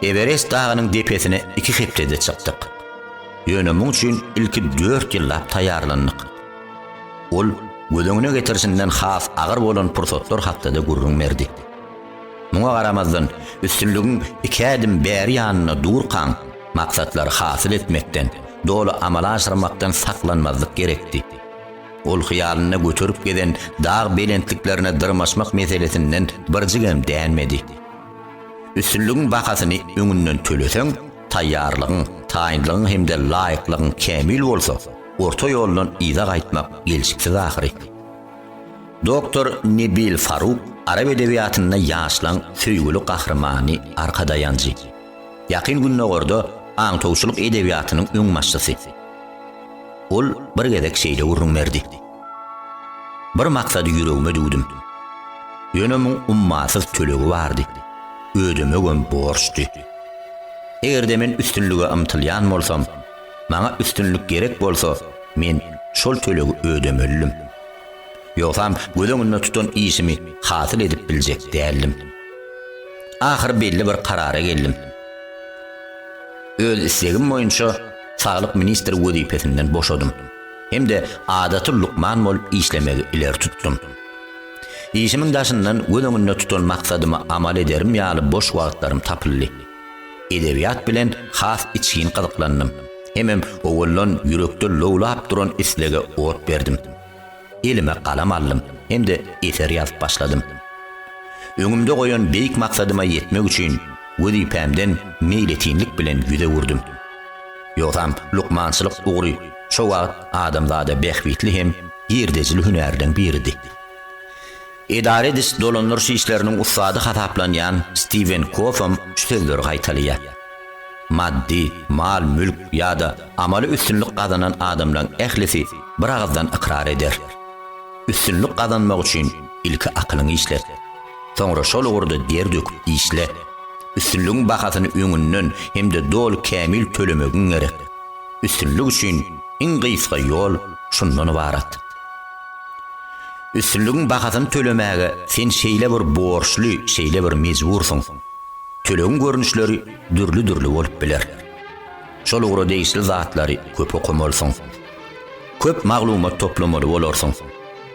Ewerest dagynyň depesine iki hepdede çykdyk. Ýöne muň üçin ilki dört ýyllap taýýarlandyk. Ol göz öňüne getirişinden has agyr bolan pursatlar hakda-da gürrüň berdi. Muňa garamazdan, üstünligiň iki ädim bäri ýanynda durkaň, maksatlary hasyl etmekden, doly amala aşyrmakdan saklanmazlyk gerekdi. Ol hyýalynda göterip gezen dag belentliklerine dyrmaşmak meselesinden birjigem dänmedi. Üstünligiň bahasyny öňünden töleseň, taýýarlygyň, taýynlygyň hem-de laýyklygyň kämil bolsa, orta ýoldan yza gaýtmak gelşiksiz ahyry. Doktor Nebil Faruk arap edebiýatynda ýaşlaň söýgüli gahrymany, arkadaýanjy. Ýakyn Gündogarda aňtawçylyk edebiýatynyň öňbaşçysy. Ol bir gezek şeýle gürrüň berdi, Bir maksady ýüregime düwdüm. Ýöne muň ummasyz tölegi bardy, ödemegem borçdy. Eger-de men üstünlige ymtylýan bolsam, maňa üstünlik gerek bolsa, men şol tölegi ödemelidim. Ýogsam göz öňünde tutan işimi hasyl edip biljek däldim. Ahyry belli bir karara geldim. Öz islegim boýunça saglyk ministri wezipesinden boşadym hem-de adaty lukman bolup işlemegi ileri tutdum. Işimiň daşyndan göz öňünde tutan maksadyma amal ederim ýaly boş wagtlarym tapyldy. Edebiýat bilen has içgin gyzyklandym hemem owaldan ýürekde lowlap duran islege ot berdim. Elime galam aldym hem-de eser ýazyp başladym. Öňümde goýan beýik maksadyma ýetmek üçin wezipämden meýletinlik bilen ýüz öwürdim. Ýogsam, lukmançylyk ugry şo wagt adamzada bähbitli hem girdejili hünärden biridi. Edara ediş, dolandyryş işleriniň ussady hasaplanýan Stiwen Kofam şu sözleri gaýtalaýar, Maddy, mal-mülk ýa-da amaly üstünlik gazanan adamlaň ählisi bir agyzdan ykrar eder, Üstünlik gazanmak üçin ilki akylyňy işlet. Soňra şol ugurda der döküp işle. Üstünligiň bahasyny öňünden hem-de doly kämil tölemegiň gerek. Üstünlik üçin iň gysga ýol şundan ybarat. Üstünligiň bahasyny tölemäge sen şeýle bir borçly, şeýle bir mejbursyň. Tölegiň görnüşleri dürli-dürli bolup biler. Şol ugra degişli zatlary köp okamalysyň. Köp maglumat toplamaly bolarsyň.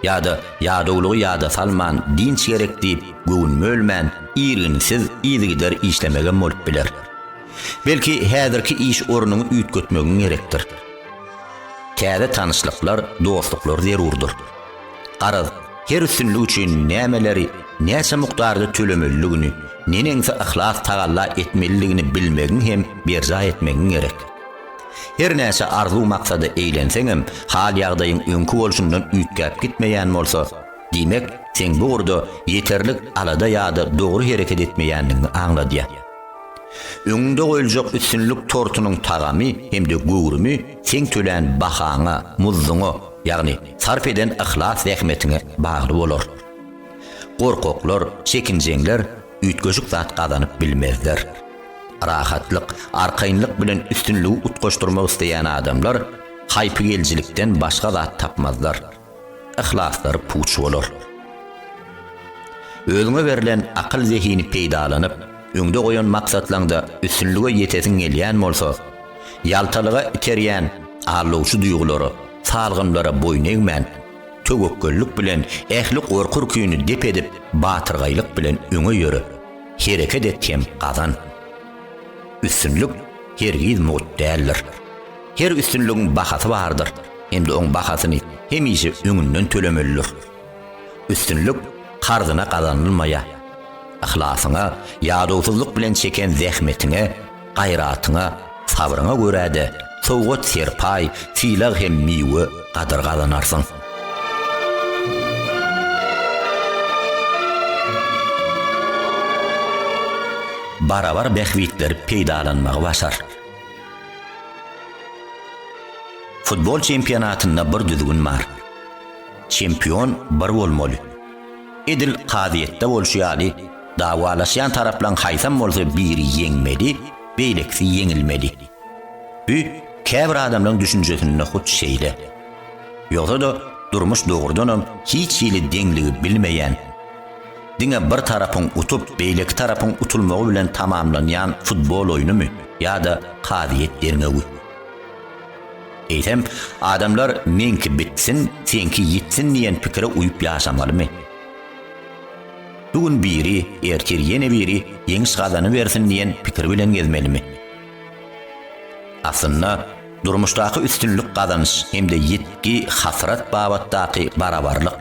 Ýa-da ýadawlygy ýada salman dynç gerek diýip göwün bölmän irginsiz yzygider işlemegem bolup biler. Belki häzirki iş ornuňy üýtgetmegiň gerekdir. Täze tanyşlyklar, dostluklar zerurdyr. Garaz, her üstünlik üçin nämeleri, näçe mukdarda tölemelidigini, neneňsi yhlas tagalla etmelidigini bilmegiň hem berjaý etmegiň gerek. Her näçe arzuw-maksada eýlenseňem, hal-ýagdaýyň öňki bolşundan üýtgäp gitmeýän bolsa, diýmek, seň bu ugurda ýeterlik alada ýa-da dogry hereket etmeýändigiňi aňladýar. Öňüňde goýuljak üstünlik tortunyň tagamy hem-de göwrümi seň tölän bahaňa, muzduňa, ýagny sarp eden yhlas zähmetiňe bagly bolar. Gorkaklar, çekinjeňler üýtgeşik zat gazanyp bilmezler. Rahatlyk, arkaýynlyk bilen üstünligi utgaşdyrmak isleýän adamlar haýpygelijilikden başga zat tapmazlar. yhlaslary puç bolar. Özüňe berlen akyl-zehini peýdalanyp, öňde goýan maksatlaňda üstünlige ýetesiň gelýän bolsa, ýaltalyga iterýän aldawçy duýgulara, salgymlara boýun egmän, töwekgellik bilen ähli gorky-ürkini dep edip, batyrgaýlyk bilen öňe ýöre, hereket et hem gazan. Üstünlik hergiz mugt däldir. Her üstünligiň bahasy bardyr, hem-de oň bahasyny hemişe öňünden tölemelidir. Üstünlik karzyna gazanylmaýar. Yhlasyňa, ýadawsyzlyk bilen çeken zähmetiňe, gaýratyňa, sabryňa görä-de, sowgat-serpaý, sylag hem miwe gadyr gazanarsyň. Barabar bähbitleri peýdalanmagy başar. Futbol çempionatynda bir düzgün bar. Çempion bir bolmaly. Edil kazyýetde bolşy ýaly, dawalaşýan taraplaň haýsam bolsa biri ýeňmeli, beýlekisi ýeňilmeli. Bü käbir adamlaň düşünjesinde hut şeýle. Ýogsa-da durmuş dogrudanam hiç hili deňligi bilmeýän, Diňe bir tarapyň utup, beýleki tarapyň utulmagy bilen tamamlanýan futbol oýnumy ýa-da kazyýet derňewi? Eýsem, adamlar meňki bitsin, seňki ýitsin diýen pikire uýup ýaşamalymy? Bu gün biri, ertir ýene biri ýeňiş gazanybersin diýen pikir bilen gezmelimi? Aslynda, Durmuşdaky üstünlik gazanyş hem-de ýitgi, hasrat babatdaky barabarlyk,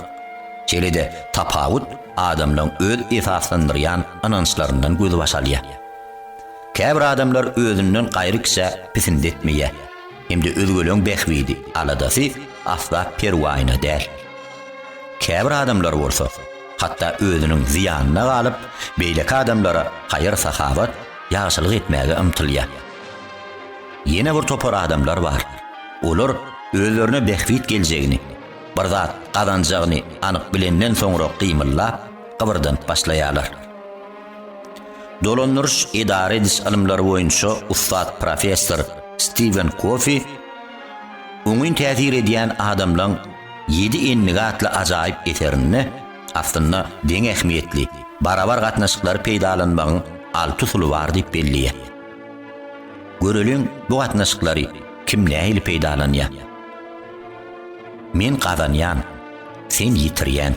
şeýle-de tapawut adamlaryň öz esaslandyrýan ynançlaryndan gözbaş alýar. Käbir adamlar özünden gaýry kişä pisindi etmeýär hem-de özgeleň bähbidi, aladasy asla perwaýyna däl. Käbir adamlar bolsa, hatda özüniň zyýanyna galyp, beýleki adamlara haýyr-sahawat, ýagşylyk etmäge ymtylýar. Ýene bir topar adamlar bar. Olar özlerine bähbit geljegini, bir zat gazanjagyny anyk bilenden soňra gymyllap, gybyrdanyp başlaýarlar. Dolandyryş edara ediş ylymlary boýunça ussat professor Stiwen Kofi Oňyn täsir edýän adamlaň ýedi endigi atly ajaýyp eserinde aslynda deň ähmiýetli, barabar gatnaşyklary peýdalanmagyň alty usuly bar diýip belleýär. Göreliň, bu gatnaşyklary kim nähili peýdalanýar? Men gazanýan, sen ýitirýän.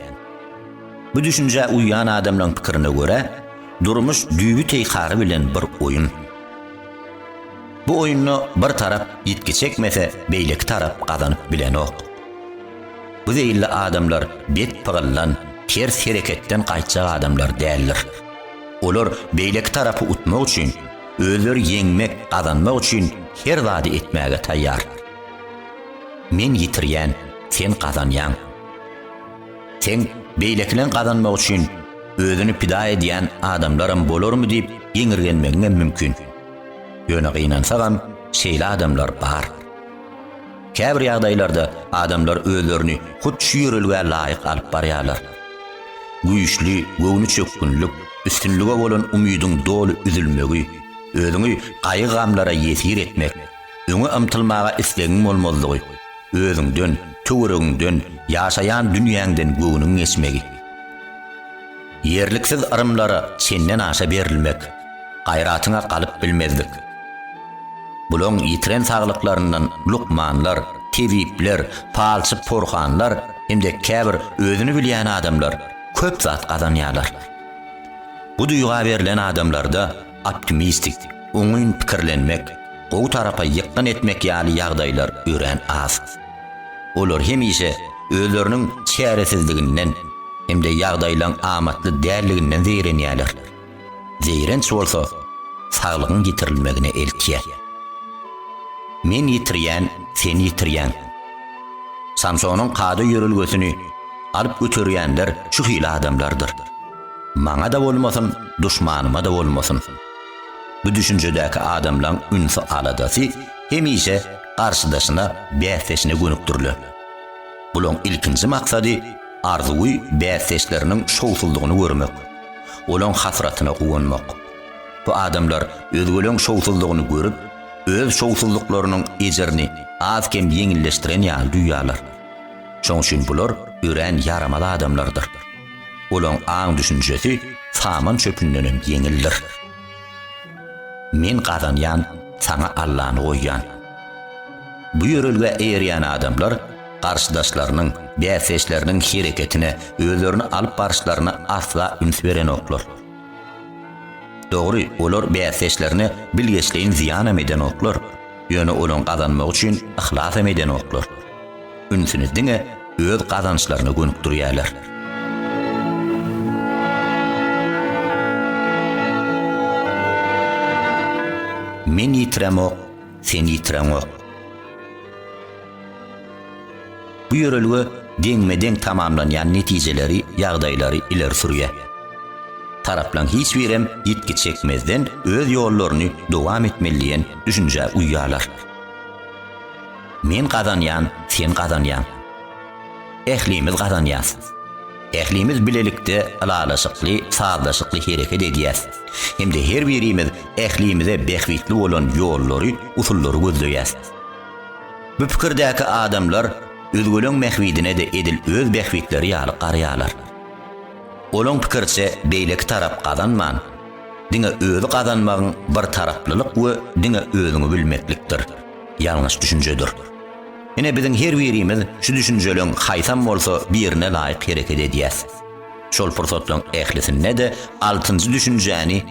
Bu düşünjä uýýan adamlaryň pikirine görä, durmuş düýbi teýkary bilen bir oýun. Bu oýunda bir tarap ýitgi çekmese, beýleki tarap gazanyp bilenok. Bu zeýilli adamlar bet pygyldan, ters hereketden gaýtjak adamlar däldir. Olar beýleki tarapy utmak üçin, özleri ýeňmek, gazanmak üçin her zady etmäge taýýar. Men ýitirýän, sen gazanýaň. Sen beýlekiniň gazanmagy üçin özüni pida edýän adamlaram bolarmy diýip geňirgenmegiňem mümkin. Ýöne gynansagam şeýle adamlar bar. Käbir ýagdaýlarda adamlar özlerini hut şu ýörelgä laýyk alyp barýarlar. Güýçli, göwnüçökgünlik, üstünlige bolan umydyň doly üzülmegi, özüňi gaýgy-gamlara ýesir etmek, öňe ymtylmaga islegiň bolmazlygy, özüňden, töweregiňden, ýaşaýan dünýäňden göwnüň geçmegi. Ýerliksiz yrymlara çenden aşa berilmek, gaýratyňa galyp bilmezlik. Bulaň ýitiren saglyklaryndan lukmanlar, tebipler, palçy porhanlar hem-de käbir özüni bilýän adamlar köp zat gazanýarlar. Bu duýga berlen adamlarda Optimistik, oňyn pikirlenmek, gowy tarapa ýykgyn etmek ýaly ýagdaýlar örän az. Olar hemişe özleriniň çäresizliginden hem-de ýagdaýlaň amatly däldiginden zeýrenýärler. Zeýrenç bolsa saglygyň ýitirilmegine eltýär. Men ýitirýän, sen ýitirýäň. Samsonyň kada ýörelgesini alyp göterýänler şu hili adamlardyr. Maňa-da bolmasyn, duşmanyma-da bolmasyn. Bu düşünjedäki adamlaň ünsi-aladasy hemişe garşydaşyna, bäsdeşine gönükdiriler. Bulaň ilkinji maksady arzuwy bäsdeşleriniň şowsuzlygyny görmek, olaň hasratyna guwanmak. Bu adamlar özgeleň şowsuzlygyny görüp, öz şowsuzlyklarynyň ejirini az-kem ýeňilleşdiren ýaly duýýarlar. Şoň üçin bular örän ýaramaz adamlardyr. Olaň aň-düşünjesi saman çöpündenem ýeňildir. Men gazanýan, saňa Allany goýýan. Bu ýörelgä eýerýän adamlar garşydaşlarynyň, bäsdeşleriniň hereketine, özlerini alyp baryşlaryna asla üns berenoklar. Dogry, olar bäsdeşlerine bilgeşleýin zyýanam edenoklar, ýöne olaň gazanmagy üçin yhlasam edenoklar. ünsüni diňe öz gazançlaryna gönükdirýärler. Men ýitiremok, sen ýitireňok. Bu ýörelge deňme-deň tamamlanýan netijeleri, ýagdaýlary ileri sürýär. Taraplaň hiç birem ýitgi çekmezden öz ýollaryny dowam etmeli diýen düşünjä uýýarlar. Men gazanýan, sen gazanýaň. Ählimiz gazanýas. Ählimiz bilelikde ylalaşykly, sazlaşykly hereket edýäs. Hem-de her birimiz ählimize bähbitli bolan ýollary, usullary gözleýäs. Bu pikirdäki adamlar özgeleň mähbidine-de edil öz bähbitleri ýaly garaýarlar. Olaň pikiriçe beýleki tarap gazanman, diňe özi gazanmagyň birtaraplylyk we diňe özüňi bilmeklikdir. Ýalňyş düşünjedir. Ine biziň her birimiz şu düşünjeleň haýsam bolsa birine laýyk hereket edýäs. Şol pursatlaň ählisinde-de altynjy düşünjäni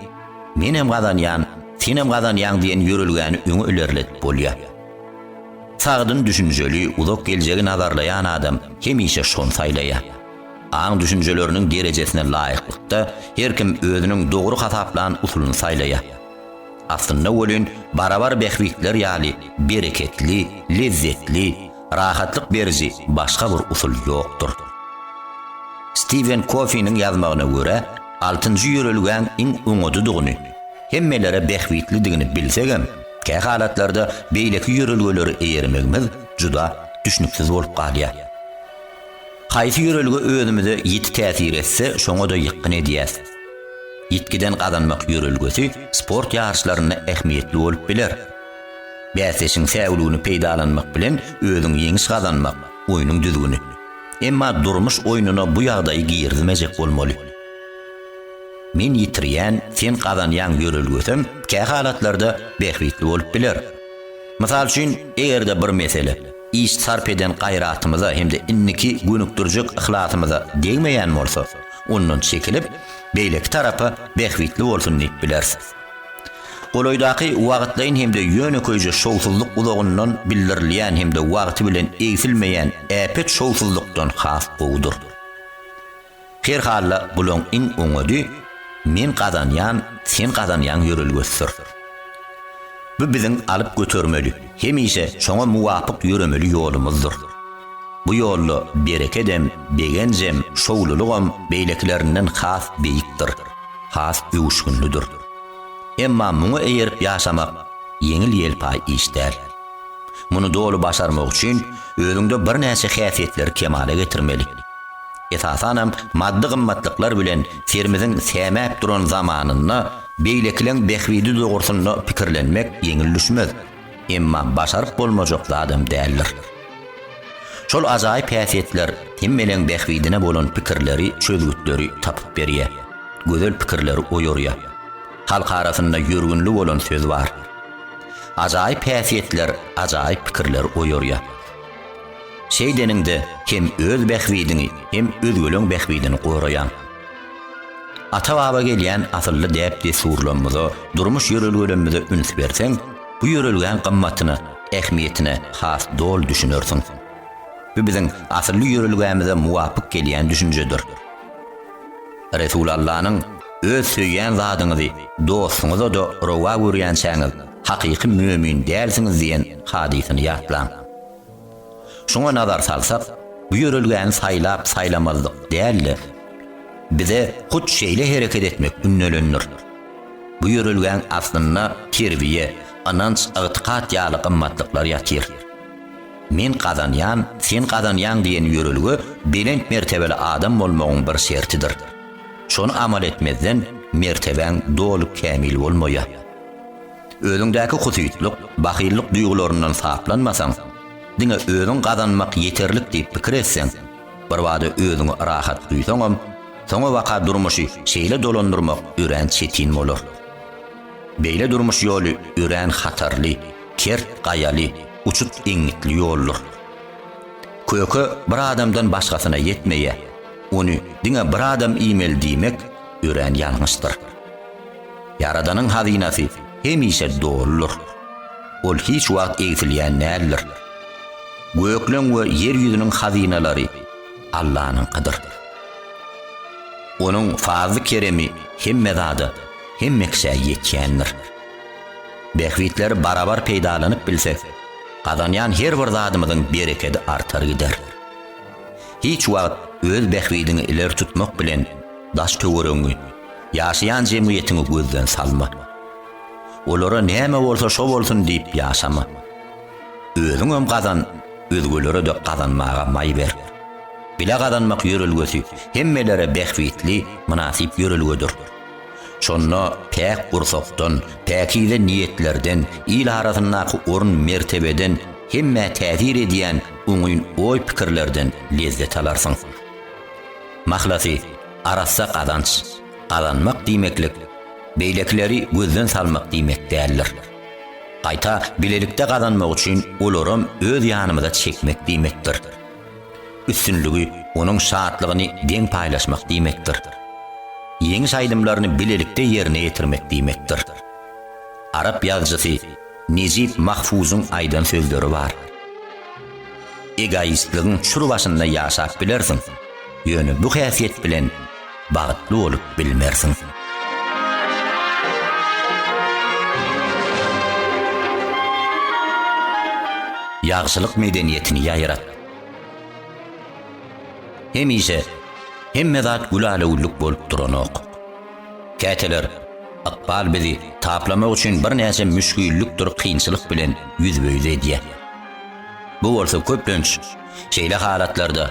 Menem gazanýan, senem gazanýaň diýen ýörelgäni öňe ilerledip bolýar. Sagdyn düşünjeli, uzak geljegi nazarlaýan adam hemişe şony saýlaýar. Aň düşünjeleriniň derejesine laýyklykda her kim özüniň dogry hasaplan usulyny saýlaýar. Aslynda welin, barabar bähbitler ýaly bereketli, lezzetli, rahatlyk beriji başga bir usul ýokdur. Stiwen Kofiniň ýazmagyna görä, altynjy ýörelgäň iň oňadydygyny, hemmelere bähbitlidigini bilsegem, kä halatlarda beýleki ýörelgeleri eýermegimiz juda düşnüksiz bolup galýar. Haýsy ýörelge özümize ýiti täsir etse, şoňa-da ýykgyn edýäs. Ýitgiden gazanmak ýörelgesi sport ýaryşlarynda ähmiýetli bolup biler. Bäsdeşiň säwligini peýdalanmak bilen özüň ýeňiş gazanmak, oýnuň düzgüni. Emma durmuş oýnuna bu ýagdaýy girizmejek bolmaly. Men ýitirýän, sen gazanýaň ýörelgesem kähalatlarda bähbitli bolup biler. Mysal üçin, eger-de bir mesele. iş sarp eden gaýratymyza hem-de indiki gönükdirjek yhlasymyza degmeýän bolsa, ondan çekilip, beýleki tarapa bähbitli bolsun diýip bileris. Golaýdaky wagtlaýyn hem-de ýönekeýje şowsuzlyk uzagyndan bildirilýän hem-de wagty bilen egsilmeýän äpet şowsuzlykdan has gowudyr. Herhalla bulaň iň oňady men gazanýan sen gazanýaň ýörelgesidir. Bu biziň alyp götermeli, hemişe şoňa muwapyk ýöremeli ýolumyzdyr. Bu ýolda berekedem, begenjem, şowlulygam beýlekilerinden has beýikdir, has öwüşginlidir. Emma muňa eýerip ýaşamak ýeňil-ýelpaý iş däl. Muny doly başarmak üçin özüňde birnäçe häsiýetleri kemala getirmeli. Esasanam maddy gymmatlyklar bilen serimiziň sämäp duran zamanynda beýlekileň bähbidi dogrusynda pikirlenmek ýeňil düşmez, emma başaryp bolmajak zadam däldir. Şol ajaýyp häsiýetler hemmeläň bähbidine bolan pikirleri, çözgütleri tapyp berýär, gözel pikirleri oýarýar. Halk arasynda ýörgünli bolan söz bar. Ajaýyp häsiýetler ajaýyp pikirleri oýarýar. Şeýdeniňde hem öz bähbidiňi, hem özgeleň bähbidini goraýaň. Ata-baba gelýän asylly däp-dessurlarymyza, durmuş ýörelgelerimize üns berseň, bu ýörelgäň gymmatyna, ähmiýetine has doly düşünersiň. Bu biziň asylly ýörelgämize muwapyk gelýän düşünjedir. Resulallanyň, Öz söýýän zadyňyzy dostuňyza-da rowa görýänçäňiz, hakyky mömin dälsiňiz diýen hadysyny ýatlaň. Şuňa nazar salsak, bu ýörelgäni saýlap-saýlamazlyk däl-de, bize hut şeýle hereket etmek ündelendir. Bu ýörelgäň aslynda terbiýe, ynanç, ygtykat ýaly gymmatlyklar ýatyr. Men gazanýan, sen gazanýaň diýen ýörelge belent mertebeli adam bolmagyň bir şertidir. Şony amal etmezden mertebäň doly kämil bolmaýar. Özüňdäki husytlyk, bahyllyk duýgularyndan saplanmasaň, diňe özüň gazanmak ýeterlik diýip pikir etseň, birbada özüňi rahat duýsaňam, soňabaka durmuşy şeýle dolandyrmak örän çetin bolar. Beýle durmuş ýoly örän hatarly, kert gaýaly, uçut eňňitli ýoldur. Köke bir adamdan başgasyna ýetmeýär, ony diňe bir adam iýmeli diýmek örän ýalňyşdyr. Ýaradanyň hazynasy hemişe doludyr. Ol hiç wagt egsilýän däldir. Gökleň we ýer ýüzüniň hazynalary Allanyňkydyr. Onuň fazly-keremi hemme zada, hemme kişä ýetýändir. Bähbitleri barabar peýdalanyp bilsek, gazanýan her bir zadymyzyň berekedi artar gider. Hiç wagt öz bähbidiňi ileri tutmak bilen daş-töweregiňi Ýaşaýan jemgyýetiňi gözden salma. Olara näme bolsa şo bolsun diýip ýaşama. Özüňem gazan, özgelere-de gazanmaga maý ber. Bile gazanmak ýörelgesi hemmelere bähbitli, mynasyp ýörelgedir. Şonda päk gursakdan, päkize niýetlerden, il arasyndaky orun-mertebeden, hemmä täsir edýän oňyn oý-pikirlerden lezzet alarsyň. Mahlasy, Arassa gazanç gazanmak diýmeklik beýlekileri gözden salmak diýmek däldir. Gaýta bilelikde gazanmak üçin olaram öz ýanymyza çekmek diýmekdir. Üstünligi, onuň şatlygyny deň paýlaşmak diýmekdir. Ýeňiş aýdymlaryny bilelikde ýerine ýetirmek diýmekdir. Arap ýazyjysy Nejip Mahfuzyň aýdan sözleri bar. Egoistligiň çür başynda ýaşap bilersiň, ýöne bu häsiýet bilen bagtly bolup bilmersiň. Ýagşylyk medeniýetini ýaýrat. Hemişe hemme zat gülälewüllük bolup duranok. Käteler ykbal bizi taplamak üçin birnäçe müşgillikdir kynçylyk bilen ýüzbe-ýüz edýär. Bu bolsa köplenç şeýle halatlarda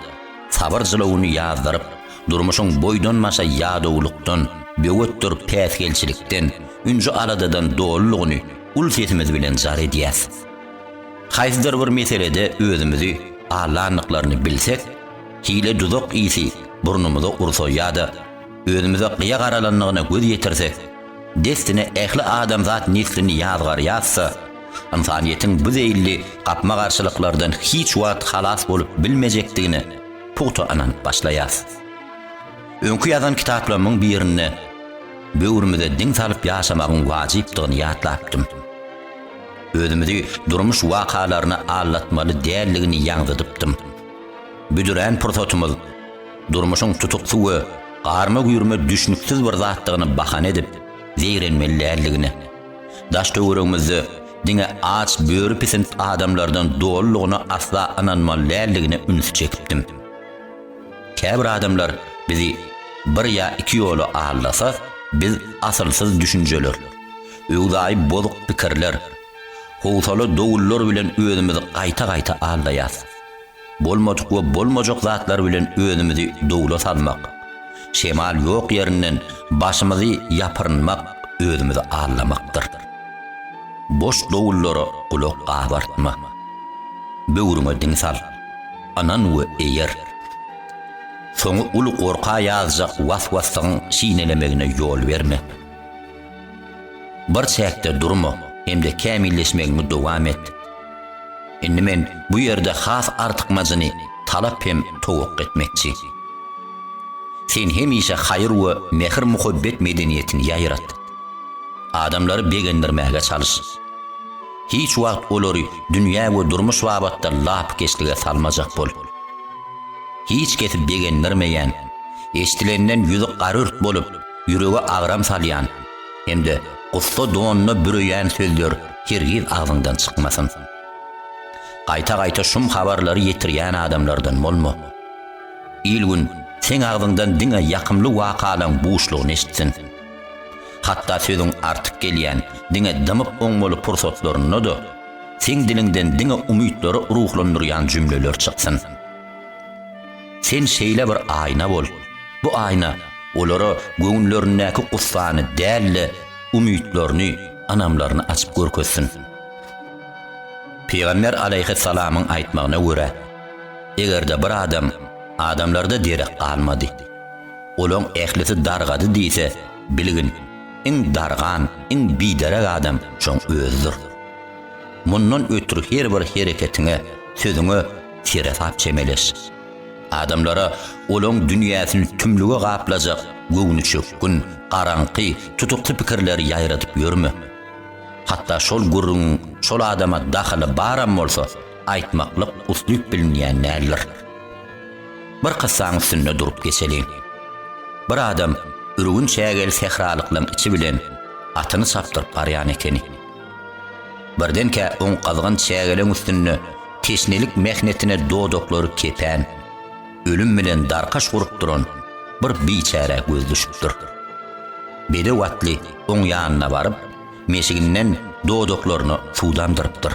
sabyr jylawyny ýazdyryp, durmuşyň boýdan-başa ýadawlykdan, böwetdir päsgelçilikden, ünji-aladadan dolulygyny uly sesimiz bilen jar edýäs. Haýsydyr bir meselede özümizi aldandyklaryny bilsek, hile-duzak ysy burnumyza ursa ýa-da, Özümize gyýa garalandygyna göz ýetirsek, dessine ähli adamzat neslini ýazgarýarsa, ynsanyýetiň bu zeýilli gapma-garşylyklardan hiç wagt halas bolup bilmejekdigine pugta ynanyp başlaýarys. Öňki ýazan kitaplarymyň birinde böwrümize diň salyp ýaşamagyň wajypdygyny ýatlapdym. Özümizi durmuş wakalaryna aldatmaly däldigini ýaňzydypdym. Büdrän pursatymyz. Durmuşyň tutuksy we garma-güýrme düşnüksiz bir zatdygyny bahana edip, zeýrenmeli däldigini, daş-töweregimizde diňe aç böri pisint adamlardan dolulygyna asla ynanmaly däldigine ünsi çekipdim. Käbir adamlar bizi bir ýa iki ýola aldasa, biz asylsyz düşünjeler, öwzaýy bozuk pikirler, howsala dowullar bilen özümizi gaýta-gaýta aldaýarys. Bolmadyk we bolmajak zatlar bilen özümizi dowla salmak, şemal ýok ýerinden başymyzy ýapyrynmak özümizi aldamakdyr. Boş dowullara gulak gabartma. Böwrüňe diň sal. Ynan we eýer. Soňy uly gorka ýazjak was-waslygyň çinelemegine ýol berme. Bir çäkde durma hem-de kämilleşmegiňi dowam et. Indi men bu ýerde has artykmajyny talap hem towakga etmekçi. Sen hemişe haýyr we mähir-muhabbet medeniýetini ýaýrat. Adamlary begendirmäge çalyş. Hiç wagt olary dünýä we durmuş babatda lapykeçlige salmajak bol. Hiç kesi begendirmeýän, eşidilenden ýüzi garurt bolup, ýürege agram salýan hem-de gussa donuna büreýän sözler hergiz agzyňdan çykmasyn. Gaýta-gaýta şum habarlary ýetirýän adamlardan bolma. Il-gün seň agzyňdan diňe ýakymly wakalaň buşlugyny eşitsin. Hatda sözüň artyk gelýän, diňe dymyp oňmaly pursatlarynda-da, seň diliňden diňe umytlary ruhlandyrýan jümleler çyksyn. Sen şeýle bir aýna bol. Bu aýna olara göwünlerindäki gussany däl-de, umytlaryny, anamlaryny açyp görkezsin. Pygamber alaýhyssalamyň aýtmagyna görä, eger-de bir adam adamlarda derek galmady, olaň ählisi dargady diýse, bilgin, iň dargan, iň biderek adam şoň özüdir. Mundan ötri her bir hereketiňe, sözüňe seresap çemeleş. Adamlara olaň dünýäsini tümlüge gaplajak göwnüçökgün, garaňky, tutukly pikirleri ýaýradyp ýörme. Hatda şol gürrüňiň şol adama dahyly baram bolsa, aýtmaklyk uslyp bilinýän däldir. Bir kyssaň üstünde durup geçeliň. Bir adam ürgün çägeli sähralyklaň içi bilen atyny çapdyryp barýan ekeni. Birdenkä oň gyzgyn çägeleň üstünde teşnelik mähnetine dodaklary kepen, ölüm bilen darkaş gurup duran bir biçärä göz düşüpdir. Bedew atly oň ýanyna baryp, meşiginden dodaklaryna suwdandyrypdyr.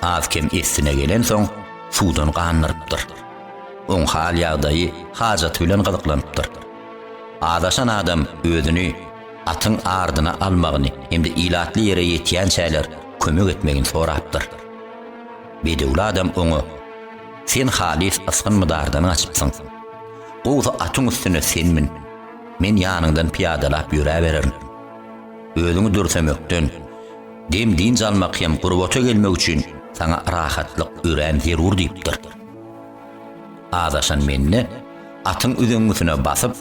Az-kem essine gelensoň, suwdan gandyrypdyr. Oň hal-ýagdaýy hajaty bilen gyzyklanypdyr. Azaşan adam özüni, atyň ardyna almagyny hem-de ilatly ýere ýetýänçäler kömek etmegini sorapdyr. Bedewli adam oňa, Sen halys ysgyn-mydardan gaçypsyň. Gowsy atyň üstüne sen mün, men ýanyňdan pyýadalap ýöräbererin. Özüňi dürsemekden, dem-dynç almak hem gurbata gelmek üçin saňa rahatlyk örän zerur diýipdir. Azaşan mende, atyň üzeňňisine basyp,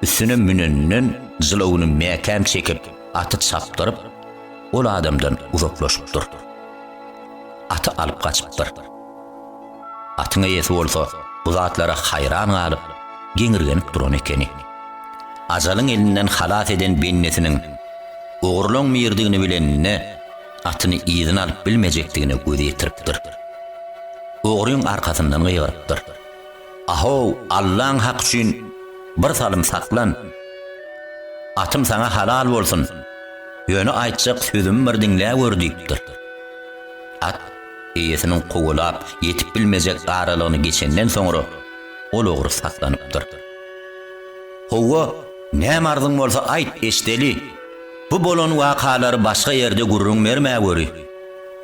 üstüne müneninden jylawuny mäkäm çekip, aty çapdyryp, ol adamdan uzaklaşypdyr. Aty alyp gaçypdyr. Atyň eýesi bolsa bu zatlara haýran galyp, geňirgenip duran ekeni. Ajalyň elinden halas eden bendesiniň ogurlaň mirdigini bileninde, atyny yzyna alyp bilmejekdigine göz ýetiripdir. Ogryň arkasyndan gygyrypdyr. Ahow, Allaň haky üçin bir salym saklan! Atym saňa halal bolsun! Ýöne aýtjak sözümi bir diňlä gör diýipdir. At eýesiniň kowalap ýetip bilmejek aralygyny geçenden soňra ol ogry saklanypdyr. Howwa, näme arzyň bolsa aýt, eşdeli! Bu bolan wakalary başga ýerde gürrüň berme göri.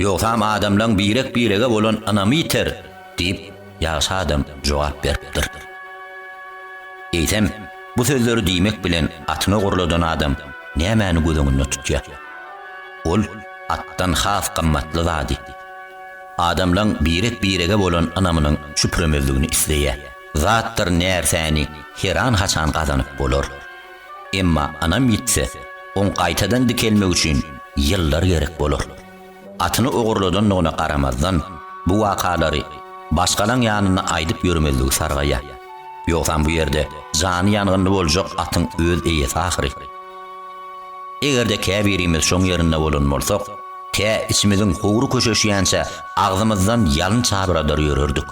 Ýogsam adamlaň birek-birege bolan ynamy ýiter, diýip, ýagşy adam jogap beripdir. Eýsem, bu sözleri diýmek bilen atyny ogurladan adam nämäni göz öňünde tutýar? Ol atdan has gymmatly zady, adamlaň birek-birege bolan ynamynyň çüpremezligini isleýär. Zatdyr närsäni heran-haçan gazanyp bolar. Emma anam ýitse, oň gaýtadan dikelmegi üçin ýyllar gerek bolar. Atyny ogurladandygyna garamazdan, bu wakalary başgalaň ýanynda aýdyp ýörmezligi sargaýar. Ýogsam bu ýerde jany ýangynly boljak atyň öz eýesi ahyry. Eger-de käbirimiz şoň ýerinde bolan bolsak, tä içimiziň howry köşeşýänçä agzymyzdan ýalyn çabyradar ýörerdik.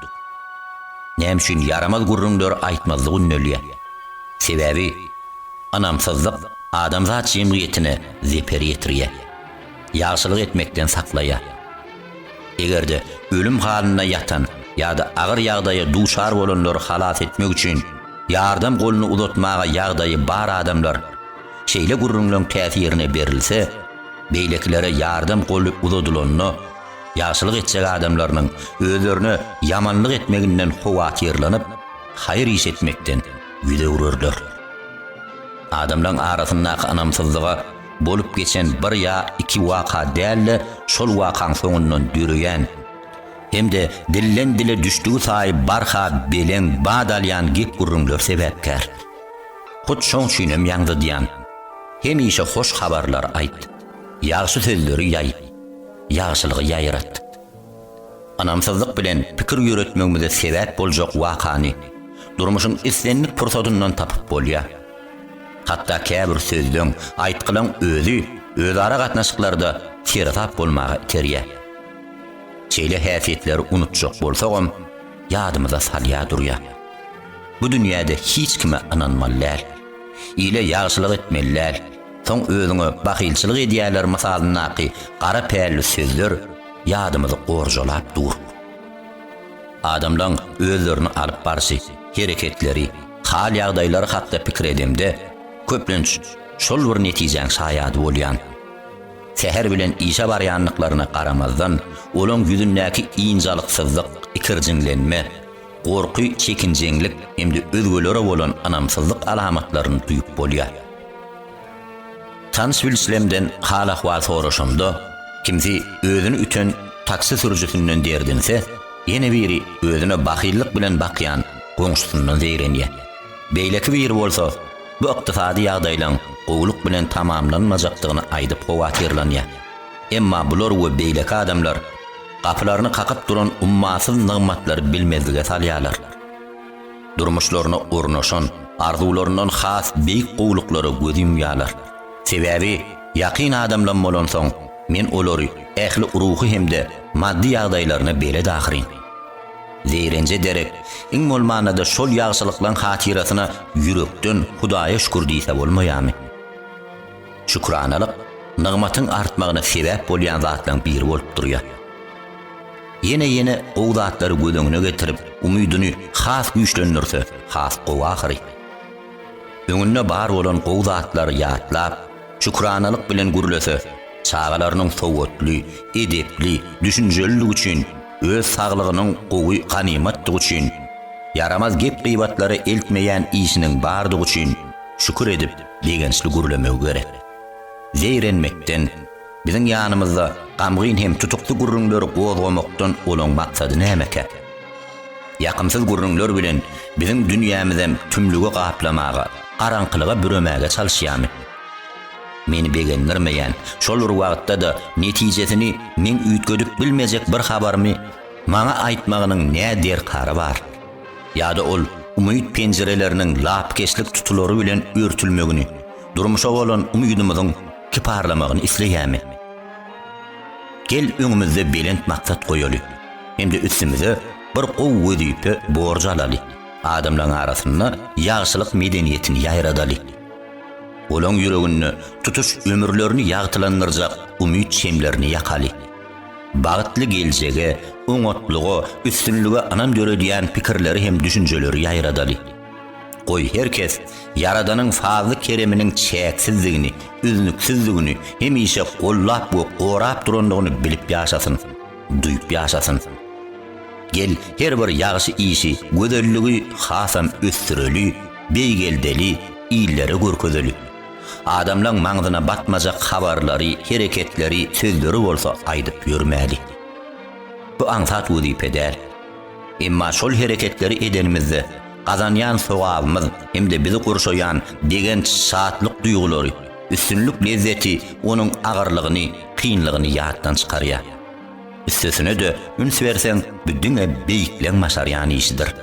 Näme üçin ýaramaz gürrüňleri aýtmazlyk ündelýär? Sebäbi, ynamsyzlyk adamzat jemgyýetine zeper ýetirýär, ýagşylyk etmekden saklaýar. Eger-de ölüm halynda ýatan ýa-da agyr ýagdaýa duçar bolanlary halas etmek üçin ýardam goluny uzatmaga ýagdaýy bar adamlar şeýle gürrüňleň täsirine berilse, beýlekilere ýardam goly uzadylanda ýagşylyk etjek adamlarynyň özlerine ýamanlyk etmeginden howatyrlanyp, Haýyr iş etmekden ýüz öwrerler. Adamlaryň arasyndaky ynamsyzlyga bolup geçen bir ýa iki waka däl-de, şol wakaň soňundan döreýän hem-de dilden-dile düşdügi saýy barha beleň bat alýan gep-gürrüňler sebäpkär. Hut şoň üçin hem ýaňzydýan. Hemişe hoş habarlar aýt. Ýagşy sözleri ýaý. Ýagşylygy ýaýrat. Ynamsyzlyk bilen pikir ýöretmegimize sebäp boljak wakany durmuşyň islendik pursatyndan tapyp bolýar. Hatda käbir sözleň, aýtgylaň özi özara gatnaşyklarda seresap bolmaga iterýär. Şeýle häsiýetleri unutjak bolsagam, ýadymyza salýar durýar. Bu dünýäde hiç kime ynanmaly däl. Ile ýagşylyk etmeli däl. Soň özüňe bahylçylyk edýärler mysalyndaky gara pälli sözler, ýadymyzy gorjalap durk. Adamlaň özlerini alyp barşy, hereketleri, hal-ýagdaýlary hakda pikir edemde, köplenç şol bir netijäň şaýady bolýan. Säher bilen işe barýandyklaryna garamazdan, olaň ýüzündäki ynjalyksyzlyk, ikirjiňlenme, gorky, çekinjeňlik hem-de özgelere bolan ynamsyzlyk alamatlaryny duýup bolýar. Tans Wilslemden hal-ahwal soraşanda, kimsi özüni üten taksi sürüjisinden derdinse, ýene biri özüne bahyllyk bilen bakýan goňşusyndan zeýrenýär. Beýleki biri bolsa, bu ykdysady ýagdaýlaň gowulyk bilen tamamlanmajakdygyny aýdyp howatyrlanýar. Emma bular we beýleki adamlar gapylaryny kakyp duran ummasyz nygmatlary bilmezlige salýarlar. durmuşlaryna ornaşan, arzuwlaryndan has beýik gowulyklara göz ýumýarlar. Sebäbi ýakyn adamlam bolansoň, men olary ähli ruhy hem-de maddy ýagdaýlaryna belet ahyryn. Zeýrenje derek, iň bolmanda-da şol ýagşylyklaň hatyrasyna ýürekden Hudaýa şükür diýse bolmaýarmy? Şükranalyk nygmatyň artmagyna sebäp bolýan zatlaň biri bolup durýar. Ýene-ýene gowy zatlary göz öňüne getirip, umydyny has güýçlendirse, has gowy ahyry. Öňünde bar bolan gowy zatlary ýatlap, şükranalyk bilen gürlese, çagalarynyň sowatly, edepli, düşünjelidigi üçin, öz saglygynyň gowy ganymatdygy üçin, ýaramaz gep-gybatlara eltmeýän işiniň bardygy üçin şükür edip, begençli gürlemegi gerek. Zeýrenmekden. Biziň ýanymyzda gamgyn hem tutukly gürrüňleri gozgamakdan olaň maksady nämekä? Ýakymsyz gürrüňler bilen biziň dünýämizem tümlügi gaplamaga, garaňkylyga büremäge çalyşýarmy? Meni begendirmeýän, şol bir wagtda-da netijesini meň üýtgedip bilmejek bir habarymy maňa aýtmagynyň nä derkary bar? Ýa-da ol umyt penjireleriniň lapykeçlik tutulary bilen örtülmegini, durmuşa bolan umydymyzyň Kyparlamagyny isleýämi? Gel öňümizde belent maksat goýaly hem-de üstümize bir gowy wezipe borjy alaly, adamlaryň arasynda ýagşylyk medeniýetini ýaýradaly. Olaň ýüreginde tutuş ömürlerini ýagtylandyrjak umyt şemlerini ýakaly. Bagtly geljege, oňatlyga, üstünlige ynam döredýän pikirleri hem düşünjeleri ýaýradaly. Goý, her kes Ýaradanyň fazly-kereminiň çäksizdigini, üznüksizdigini, hemişe gollap we gorap durandygyny bilip ýaşasyn, duýup ýaşasyn. Gel, her bir ýagşy işi, gözelligi hasam ösdüreli, beýgeldeli, illere görkezeli. Adamlaň maňzyna batmajak habarlary, hereketleri, sözleri bolsa aýdyp ýörmäli. Bu aňsat wezipe däl. Emma şol hereketleri edenimizde, gazanýan sogabymyz hem-de bizi gurşaýan begenç, şatlyk duýgulary, üstünlik lezzeti onuň agyrlygyny, kynlygyny ýatdan çykarýar. Üstesine-de, üns berseň, bu diňe beýikleň başarýan işidir.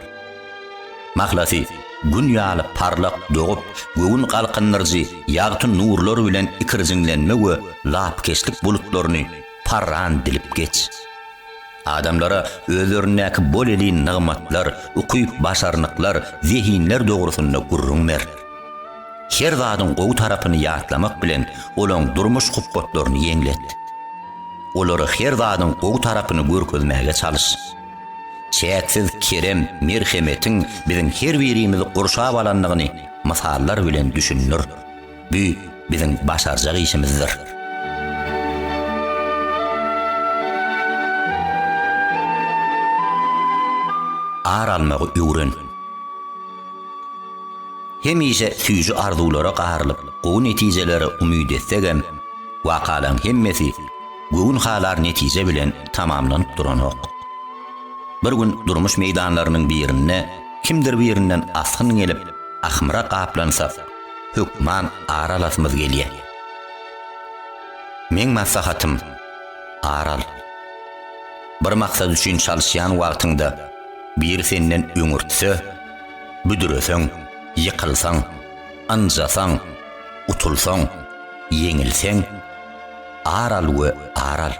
Mahlasy, Gün ýaly parlak dogup, göwün galkyndyryjy ýagty nurlar bilen ikirjiňlenme we lapykeçlik bulutlaryny parran dilip geç. Adamlara özlerindäki bolelin nygmatlar, ukyp-başarnyklar, zehinler dogrusynda gürrüň ber. Her zadyň gowy tarapyny ýatlamak bilen, olaň durmuş hupbatlaryny ýeňlet. Olara her zadyň gowy tarapyny görkezmäge çalyş. Çäksiz kerem, merhemetiň biziň her birimizi gurşap alandygyny mysallar bilen düşündir. Bu biziň başarjak işimizdir. ar almagy öwren. Hemişe süýji arzuwlara garylyp, gowy netijelere umyt etsek hem, wakalaryň hemmesi göwün halar netije bilen tamamlanyp duranok. Bir gün durmuş meýdanlarynyň birinde kimdir birinden asgyn gelip, ahmyra gaplansak, hökman ar alasymyz gelýä. Meň maslahatym, ar al. Bir maksat üçin çalyşýan wagtyňda biri senden öňürtse, büdüreseň, ýykylsaň, ynjasaň, utulsaň, ýeňilseň, ar al we ar al.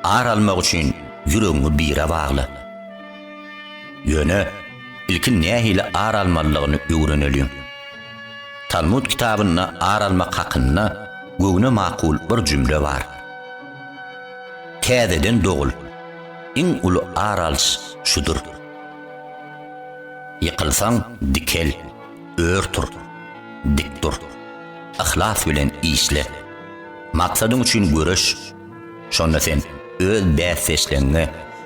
Ar almak üçin ýüregiňi bire bagla. Ýöne ilki nähili ar almalydygyny öwreneliň. Talmud kitabynda ar almak hakynda göwne makul bir jümle bar. Täzeden dogul, iň uly ar alyş şudur. Ýykylsaň, dikel, ör tur, dik dur. Yhlas bilen işle. Maksadyň üçin göreş. Şonda sen öz bäsdeşleňňe,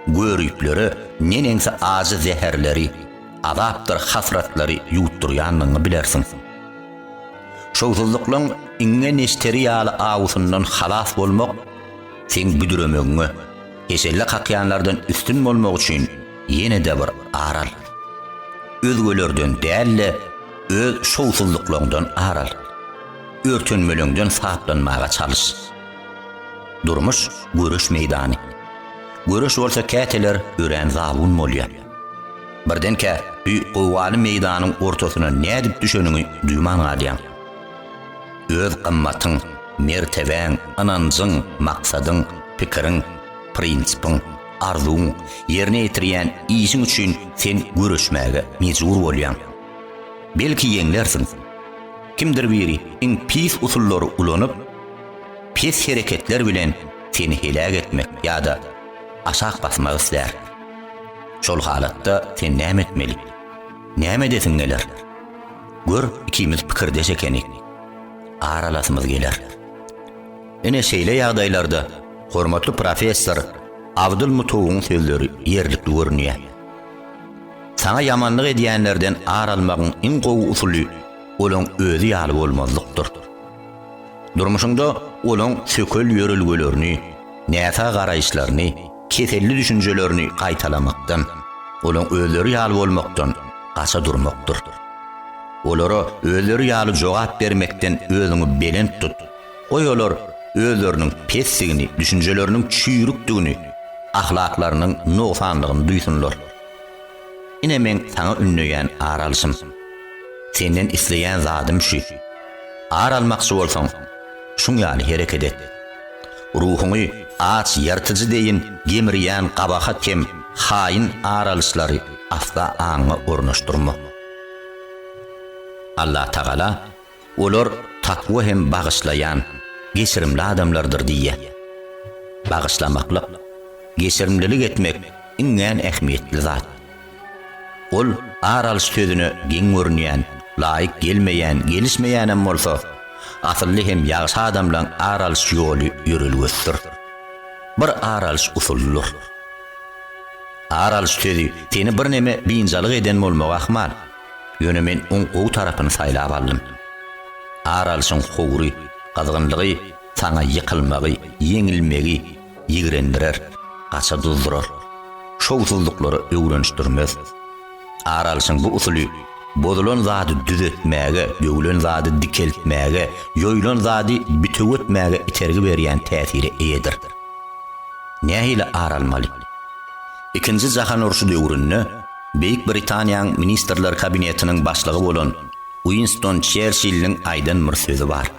göriplere neneňsi ajy zäherleri, azapdyr hasratlary ýutdurýanlygyňy bilersiň. Şowsuzlyklaň iňňe neşteri ýaly awusyndan halas bolmak seň büdüremegiňe, heşelle kakýanlardan üstün bolmak üçin ýene-de bir ar al. Özgelerden däl-de, öz şowsuzlyklaňdan ar al. Örtenmeleňden saplanmaga çalyş. Durmuş göreş meýdany. Göreş bolsa käteler örän zabun bolýar. Birdenkä bir gowgaly meýdanyň ortasyna nädip düşeniňi duýman galýaň. Öz gymmatyň, mertebäň, ynanjyň, maksadyň, pikiriň, prinsipiň, arzuwyň, ýerine ýetirýän işiň üçin sen göreşmäge mejbur bolýaň. Belki ýeňlersiň. Kimdir biri iň pis usullary ulanyp, pes hereketler bilen seni heläk etmek ýa-da aşak basmak islär. Şol halatda sen näme etmeli? Näme edesiň geler? Gör, ikimiz pikirdeş ekenik. Aralasymyz geler. Ine şeýle ýagdaýlarda hormatly professor Abdul Mutuwyň sözleri ýerlikli görünýär. Saňa ýamanlyk edýänlerden ar almagyň iň gowy usuly olaň özi ýaly bolmazlykdyr. Durmuşyňda olaň sökel ýörelgelerini, näsag garaýyşlaryny, keselli düşünjelerini gaýtalamakdan, olaň özleri ýaly bolmakdan gaça durmakdyr. Olara özleri ýaly jogap bermekden özüňi belent tut, goý olar özleriniň pesdigini, düşünjeleriniň çüýrükdigini, ahlaklarynyň nogsanlygyny duýsunlar. Ine meň saňa ündeýän ar alşym. Senden isleýän zadym şu. Ar almakçy bolsaň, şuň ýaly hereket et. Ruhuňy aç ýyrtyjy deýin gemirýän gabahat hem haýyn ar alyşlary asla aňyňa ornaşdyrma. Allatagala Olar takwa hem bagyşlaýan, geçirimli adamlardyr diýýär. Bagyşlamaklyk, geçirimlilik etmek iňňän ähmiýetli zat. Ol ar alyş sözüne geň görünýän, laýyk gelmeýän, gelişmeýänem bolsa, asylly hem ýagşy adamlaň ar alyş ýoly, ýörelgesidir. Bir ar alyş usulydyr. Ar alyş sözi seni birneme biynjalyk eden bolmagy ahmal. Ýöne men oň gowy tarapyny saýlap aldym. Ar alşyň howry, gyzgynlygy saňa ýykylmagy, ýeňilmegi ýigrendirer, gaça duzdurar. Şowsuzlyklara öwrenişdirmez. Ar alşyň bu usuly bozulan zady düzetmäge, döwlen zady dikeltmäge, ýoýlan zady bitew etmäge itergi berýän täsire eýedir. Nähili ar almaly? Ikinji jahan urşy döwründe Beýik Britaniýaň Ministrler Kabinetiniň başlygy bolan Uinston Çerçilliň aýdan bir sözi bar,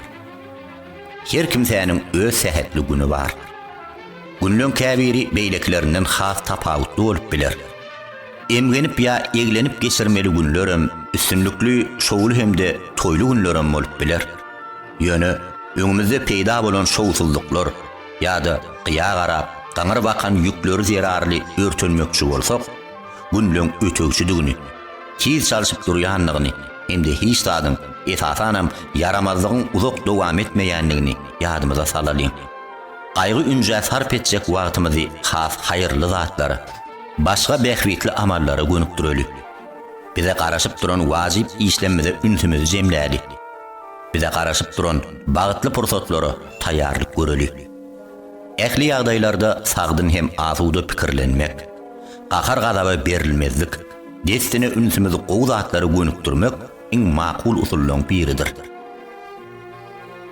Her kimsäniň öz sähetli güni bar. Günleň käbiri beýlekilerinden has tapawutly bolup biler. Emgenip ýa eglenip geçirmeli günlerem, üstünlikli, şowly hem-de toýly günlerem bolup biler. Ýöne öňümizde peýda bolan şowsuzlyklar, ýa-da gyýa garap, gaňyr bakan ýükleri zerarly örtenmekçi bolsak, günleň ötegçidigini, tiz çalşyp durýandygyny hem-de hiç zadyň, esasanam, ýaramazlygyň uzak dowam etmeýändigini ýadymyza salalyň. Gaýgy-ünjä sarp etjek wagtymyzy has haýyrly zatlara, başga bähbitli amallara gönükdireli. Bize garaşyp duran wajyp işlemmize ünsümizi jemläli. Bize garaşyp duran bagtly pursatlara taýýarlyk göreli. Ähli ýagdaýlarda sagdyn hem asuda pikirlenmek, gahar-gazaba berilmezlik, dessine ünsümizi gowy zatlara gönükdirmek iň makul usullaryň biridir.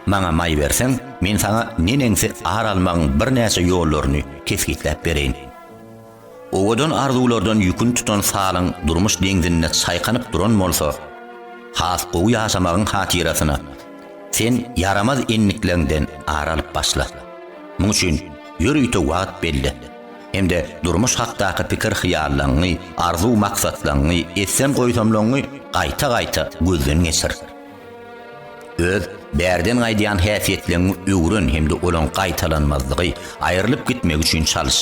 Maňa maý berseň, men saňa neneňsi ar almagyň birnäçe ýollaryny kesgitläp bereýin. Owadan arzuwlardan ýüküni tutan salyň durmuş deňzinde çaýkanyp duran bolsa, has gowy ýaşamagyň hatyrasyna, sen ýaramaz endikleňden ar alyp başla. Muň üçin ýörite wagt belle hem-de durmuş hakdaky pikir-hyýallaňňy, arzuw-maksatlaňňy, etsem-goýsamlaňňy gaýta-gaýta gözden geçir. Öz bärden gaýdýan häsiýetleňi öwren hem-de olaň gaýtalanmazlygy, aýrylyp gitmegi üçin çalyş.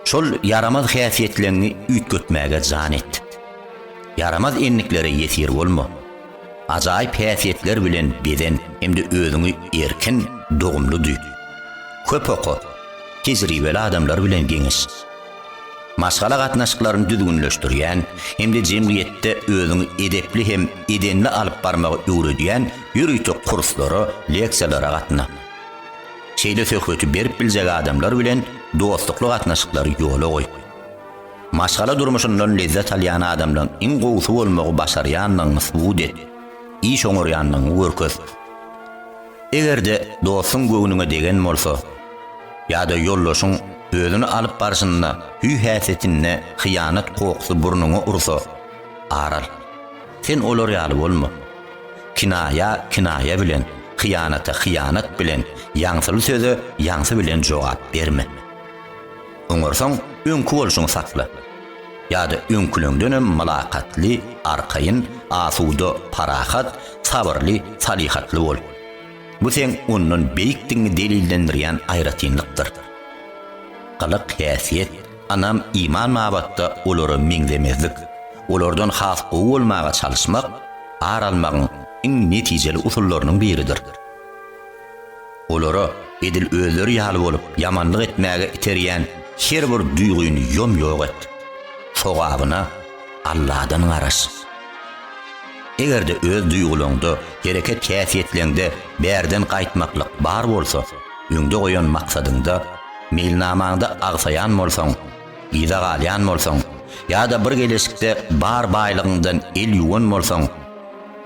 Şol ýaramaz häsiýetleňi üýtgetmäge jan et. Ýaramaz endiklere ýesir bolma. Ajaýyp häsiýetler bilen bezen hem-de özüňi erkin, dogumly duý. Köp oka, tejribeli adamlar bilen geňeş. Maşgala gatnaşyklaryny düzgünleşdirýän hem-de jemgyýetde özüňi edepli hem edenli alyp barmagy öwredýän ýörite kurslara, leksiýalara gatna. Şeýle söhbeti berip biljek adamlar bilen dostlukly gatnaşyklary ýola goý. Maşgala durmuşyndan lezzet alýan adamlaryň iň gowusy bolmagy başarýandygyňy subut et, iş oňarýandygyňy görkez. Eger-de dostuň göwnüňe degen bolsa, ýa-da ýoldaşyň özüni alyp barşynda hüý-häsiýetinde hyýanat kokusy burnuňa ursa, ar al. Sen olar ýaly bolma. Kinaýa kinaýa bilen, hyýanata hyýanat bilen, ýaňsyly söze ýaňsy bilen jogap berme. Oňarsaň, öňki bolşuňy sakla. Ýa-da öňküleňdenem mylakatly, arkaýyn, asuda, parahat, sabyrly, salyhatly bol. Bu seň ondan beýikdigiňi delillendirýän aýratynlykdyr. Gylyk-häsiýet, ynam, iman babatda olara meňzemezlik, olardan has gowy bolmaga çalyşmak ar almagyň iň netijeli usullarynyň biridir. Olara edil özleri ýaly bolup ýamanlyk etmäge iterýän her bir duýgyny ýom-ýok et. Sogabyna Alladan garaş. Eger-de öz duýgulaňda, hereket-häsiýetleňde bärden gaýtmaklyk bar bolsa, öňde goýan maksadyňda, meýilnamaňda agsaýan bolsaň, yza galýan bolsaň ýa-da bir geleşikde bar baýlygyňdan el ýuwan bolsaň,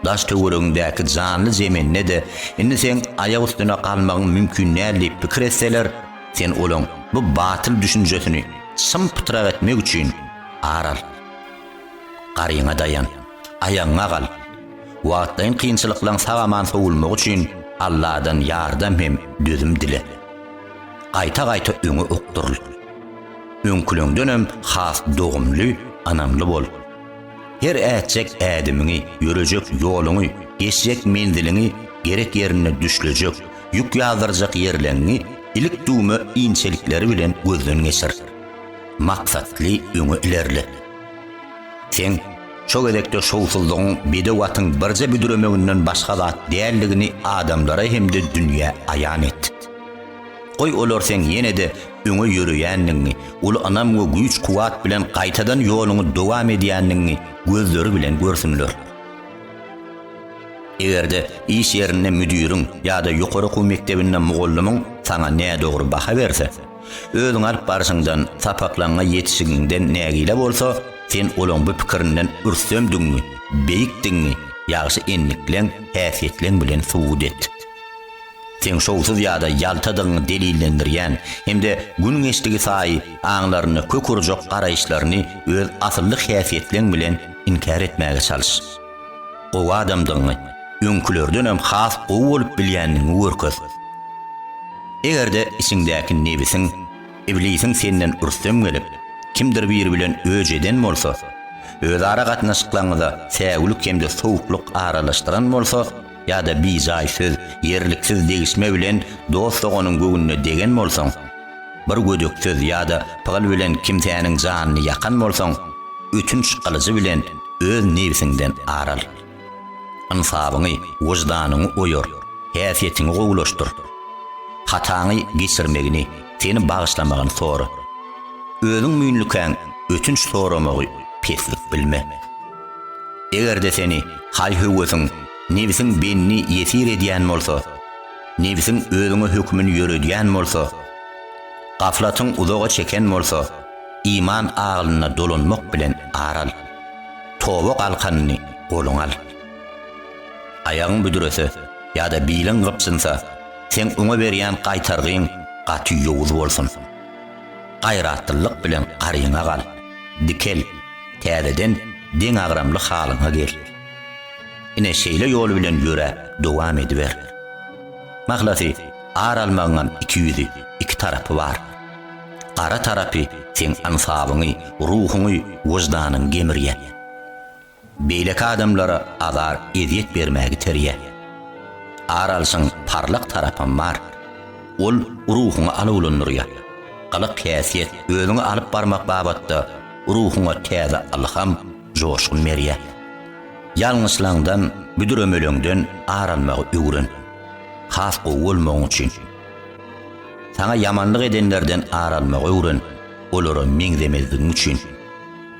Daş-töweregiňdäki janly-jemende-de indi seň aýak üstüne galmagyň mümkin däl diýip pikir etseler, sen olaň bu batyl düşünjesini çym-pytrak etmek üçin ar al. Garyňa daýan. Aýagyňa gal. Wagtlaýyn kynçylyklaň sag-aman sowulmagy üçin Alladan ýardam hem dözüm dile. Gaýta-gaýta öňe okduryl. Öňküleňdenem has dogumly, ynamly bol. Her ätjek ädimiňi, ýörejek ýoluňy, geçjek menziliňi, gerek ýerinde düşlejek, ýük ýazdyrjak ýerleňňi ilik düwme inçelikleri bilen gözden geçir. Maksatly öňe ilerle. Sen şo gezekde şowsuzlygyň bedew atyň birje büdremeginden başga zat däldigini adamlara hem-de dünýä aýan et. Goý, olar seň ýene-de öňe ýöreýändigiňi, uly ynam we güýç-kuwwat bilen gaýtadan ýoluňy dowam edýändigiňi gözleri bilen görsünler. Eger-de iş ýerinde müdiriň ýa-da ýokary okuw mekdebinde mugallymyň saňa nädogry baha berse, özüňi alyp barşyňdan, sapaklaryňa ýetişigiňden nägile bolsa, sen olaň bu pikirinden rüstemdigiňi, beýikdigiňi ýagşy endiklän häsiýetleň bilen subut et. Seň şowsuz ýa-da ýaltadygyňy delillendirýän hem-de gün geçdigi saýy aňlarynda kök urjak garaýyşlaryny öz asylly häsiýetleň bilen inkär etmäge çalyş. Gowy adamdygyňy, öňkülerdenem has gowy bolup bilýändigiňi görkez. Eger-de içiňdäki nebisiň, iblisiň senden rüstem gelip, kimdir biri bilen öj eden bolsa, özara gatnaşyklaryňyza säwlik hem-de sowuklyk aralaşdyran bolsa, ýa-da bijaý söz, ýerliksiz degişme bilen dost-doganyň göwnüne degen bolsaň, bir gödek söz ýa-da pygyl bilen kimsäniň janyny ýakan bolsaň, ötünç gylyjy bilen öz nebsiňden ar al. Ynsabyňy, wyždanyňy oýar, häsiýetiňi gowulaşdyr. Hataňy geçirmegini, seni bagyşlamagyny sora. Özüň müýnlikäň ötünç soramagy peslik bilme. Eger-de seni haý-höwesiň, nebsiň bendi, ýesir edýän bolsa, nebsiň özüňe hökümini ýöredýän bolsa, gaflatyň uzaga çeken bolsa, iman aglyna dolanmak bilen ar al. Toba galkanyny goluňa al. Aýagyň büdrese ýa-da biliň gypjynsa, seň oňa berýän gaýtargyň gaty ýowuz bolsun. Gaýratlylyk bilen garyňa gal, dikel, täzeden deňagramly halyňa gel. Ine, şeýle ýol bilen ýöräp, dowam ediber. Mahlasy, ar almagyňam iki ýüzi, iki tarapy bar. Gara tarapy seň ansabyňy, ruhuňy, wyždanyňy gemirýär. Beýleki adamlara azar ezýet bermäge iterýär. Ar alşyň parlak tarapam bar. Ol ruhuňy alawlandyrýar. Gylyk häsiýet özüňi alyp barmak babatda ruhuňa täze ylham, joşgun berýär. Ýalňyşlaňdan, büdremeleňden ar almagy öwren. Has gowy bolmagyň üçin. Saňa ýamanlyk edenlerden ar almagy öwren, olara meňzemezligiň üçin.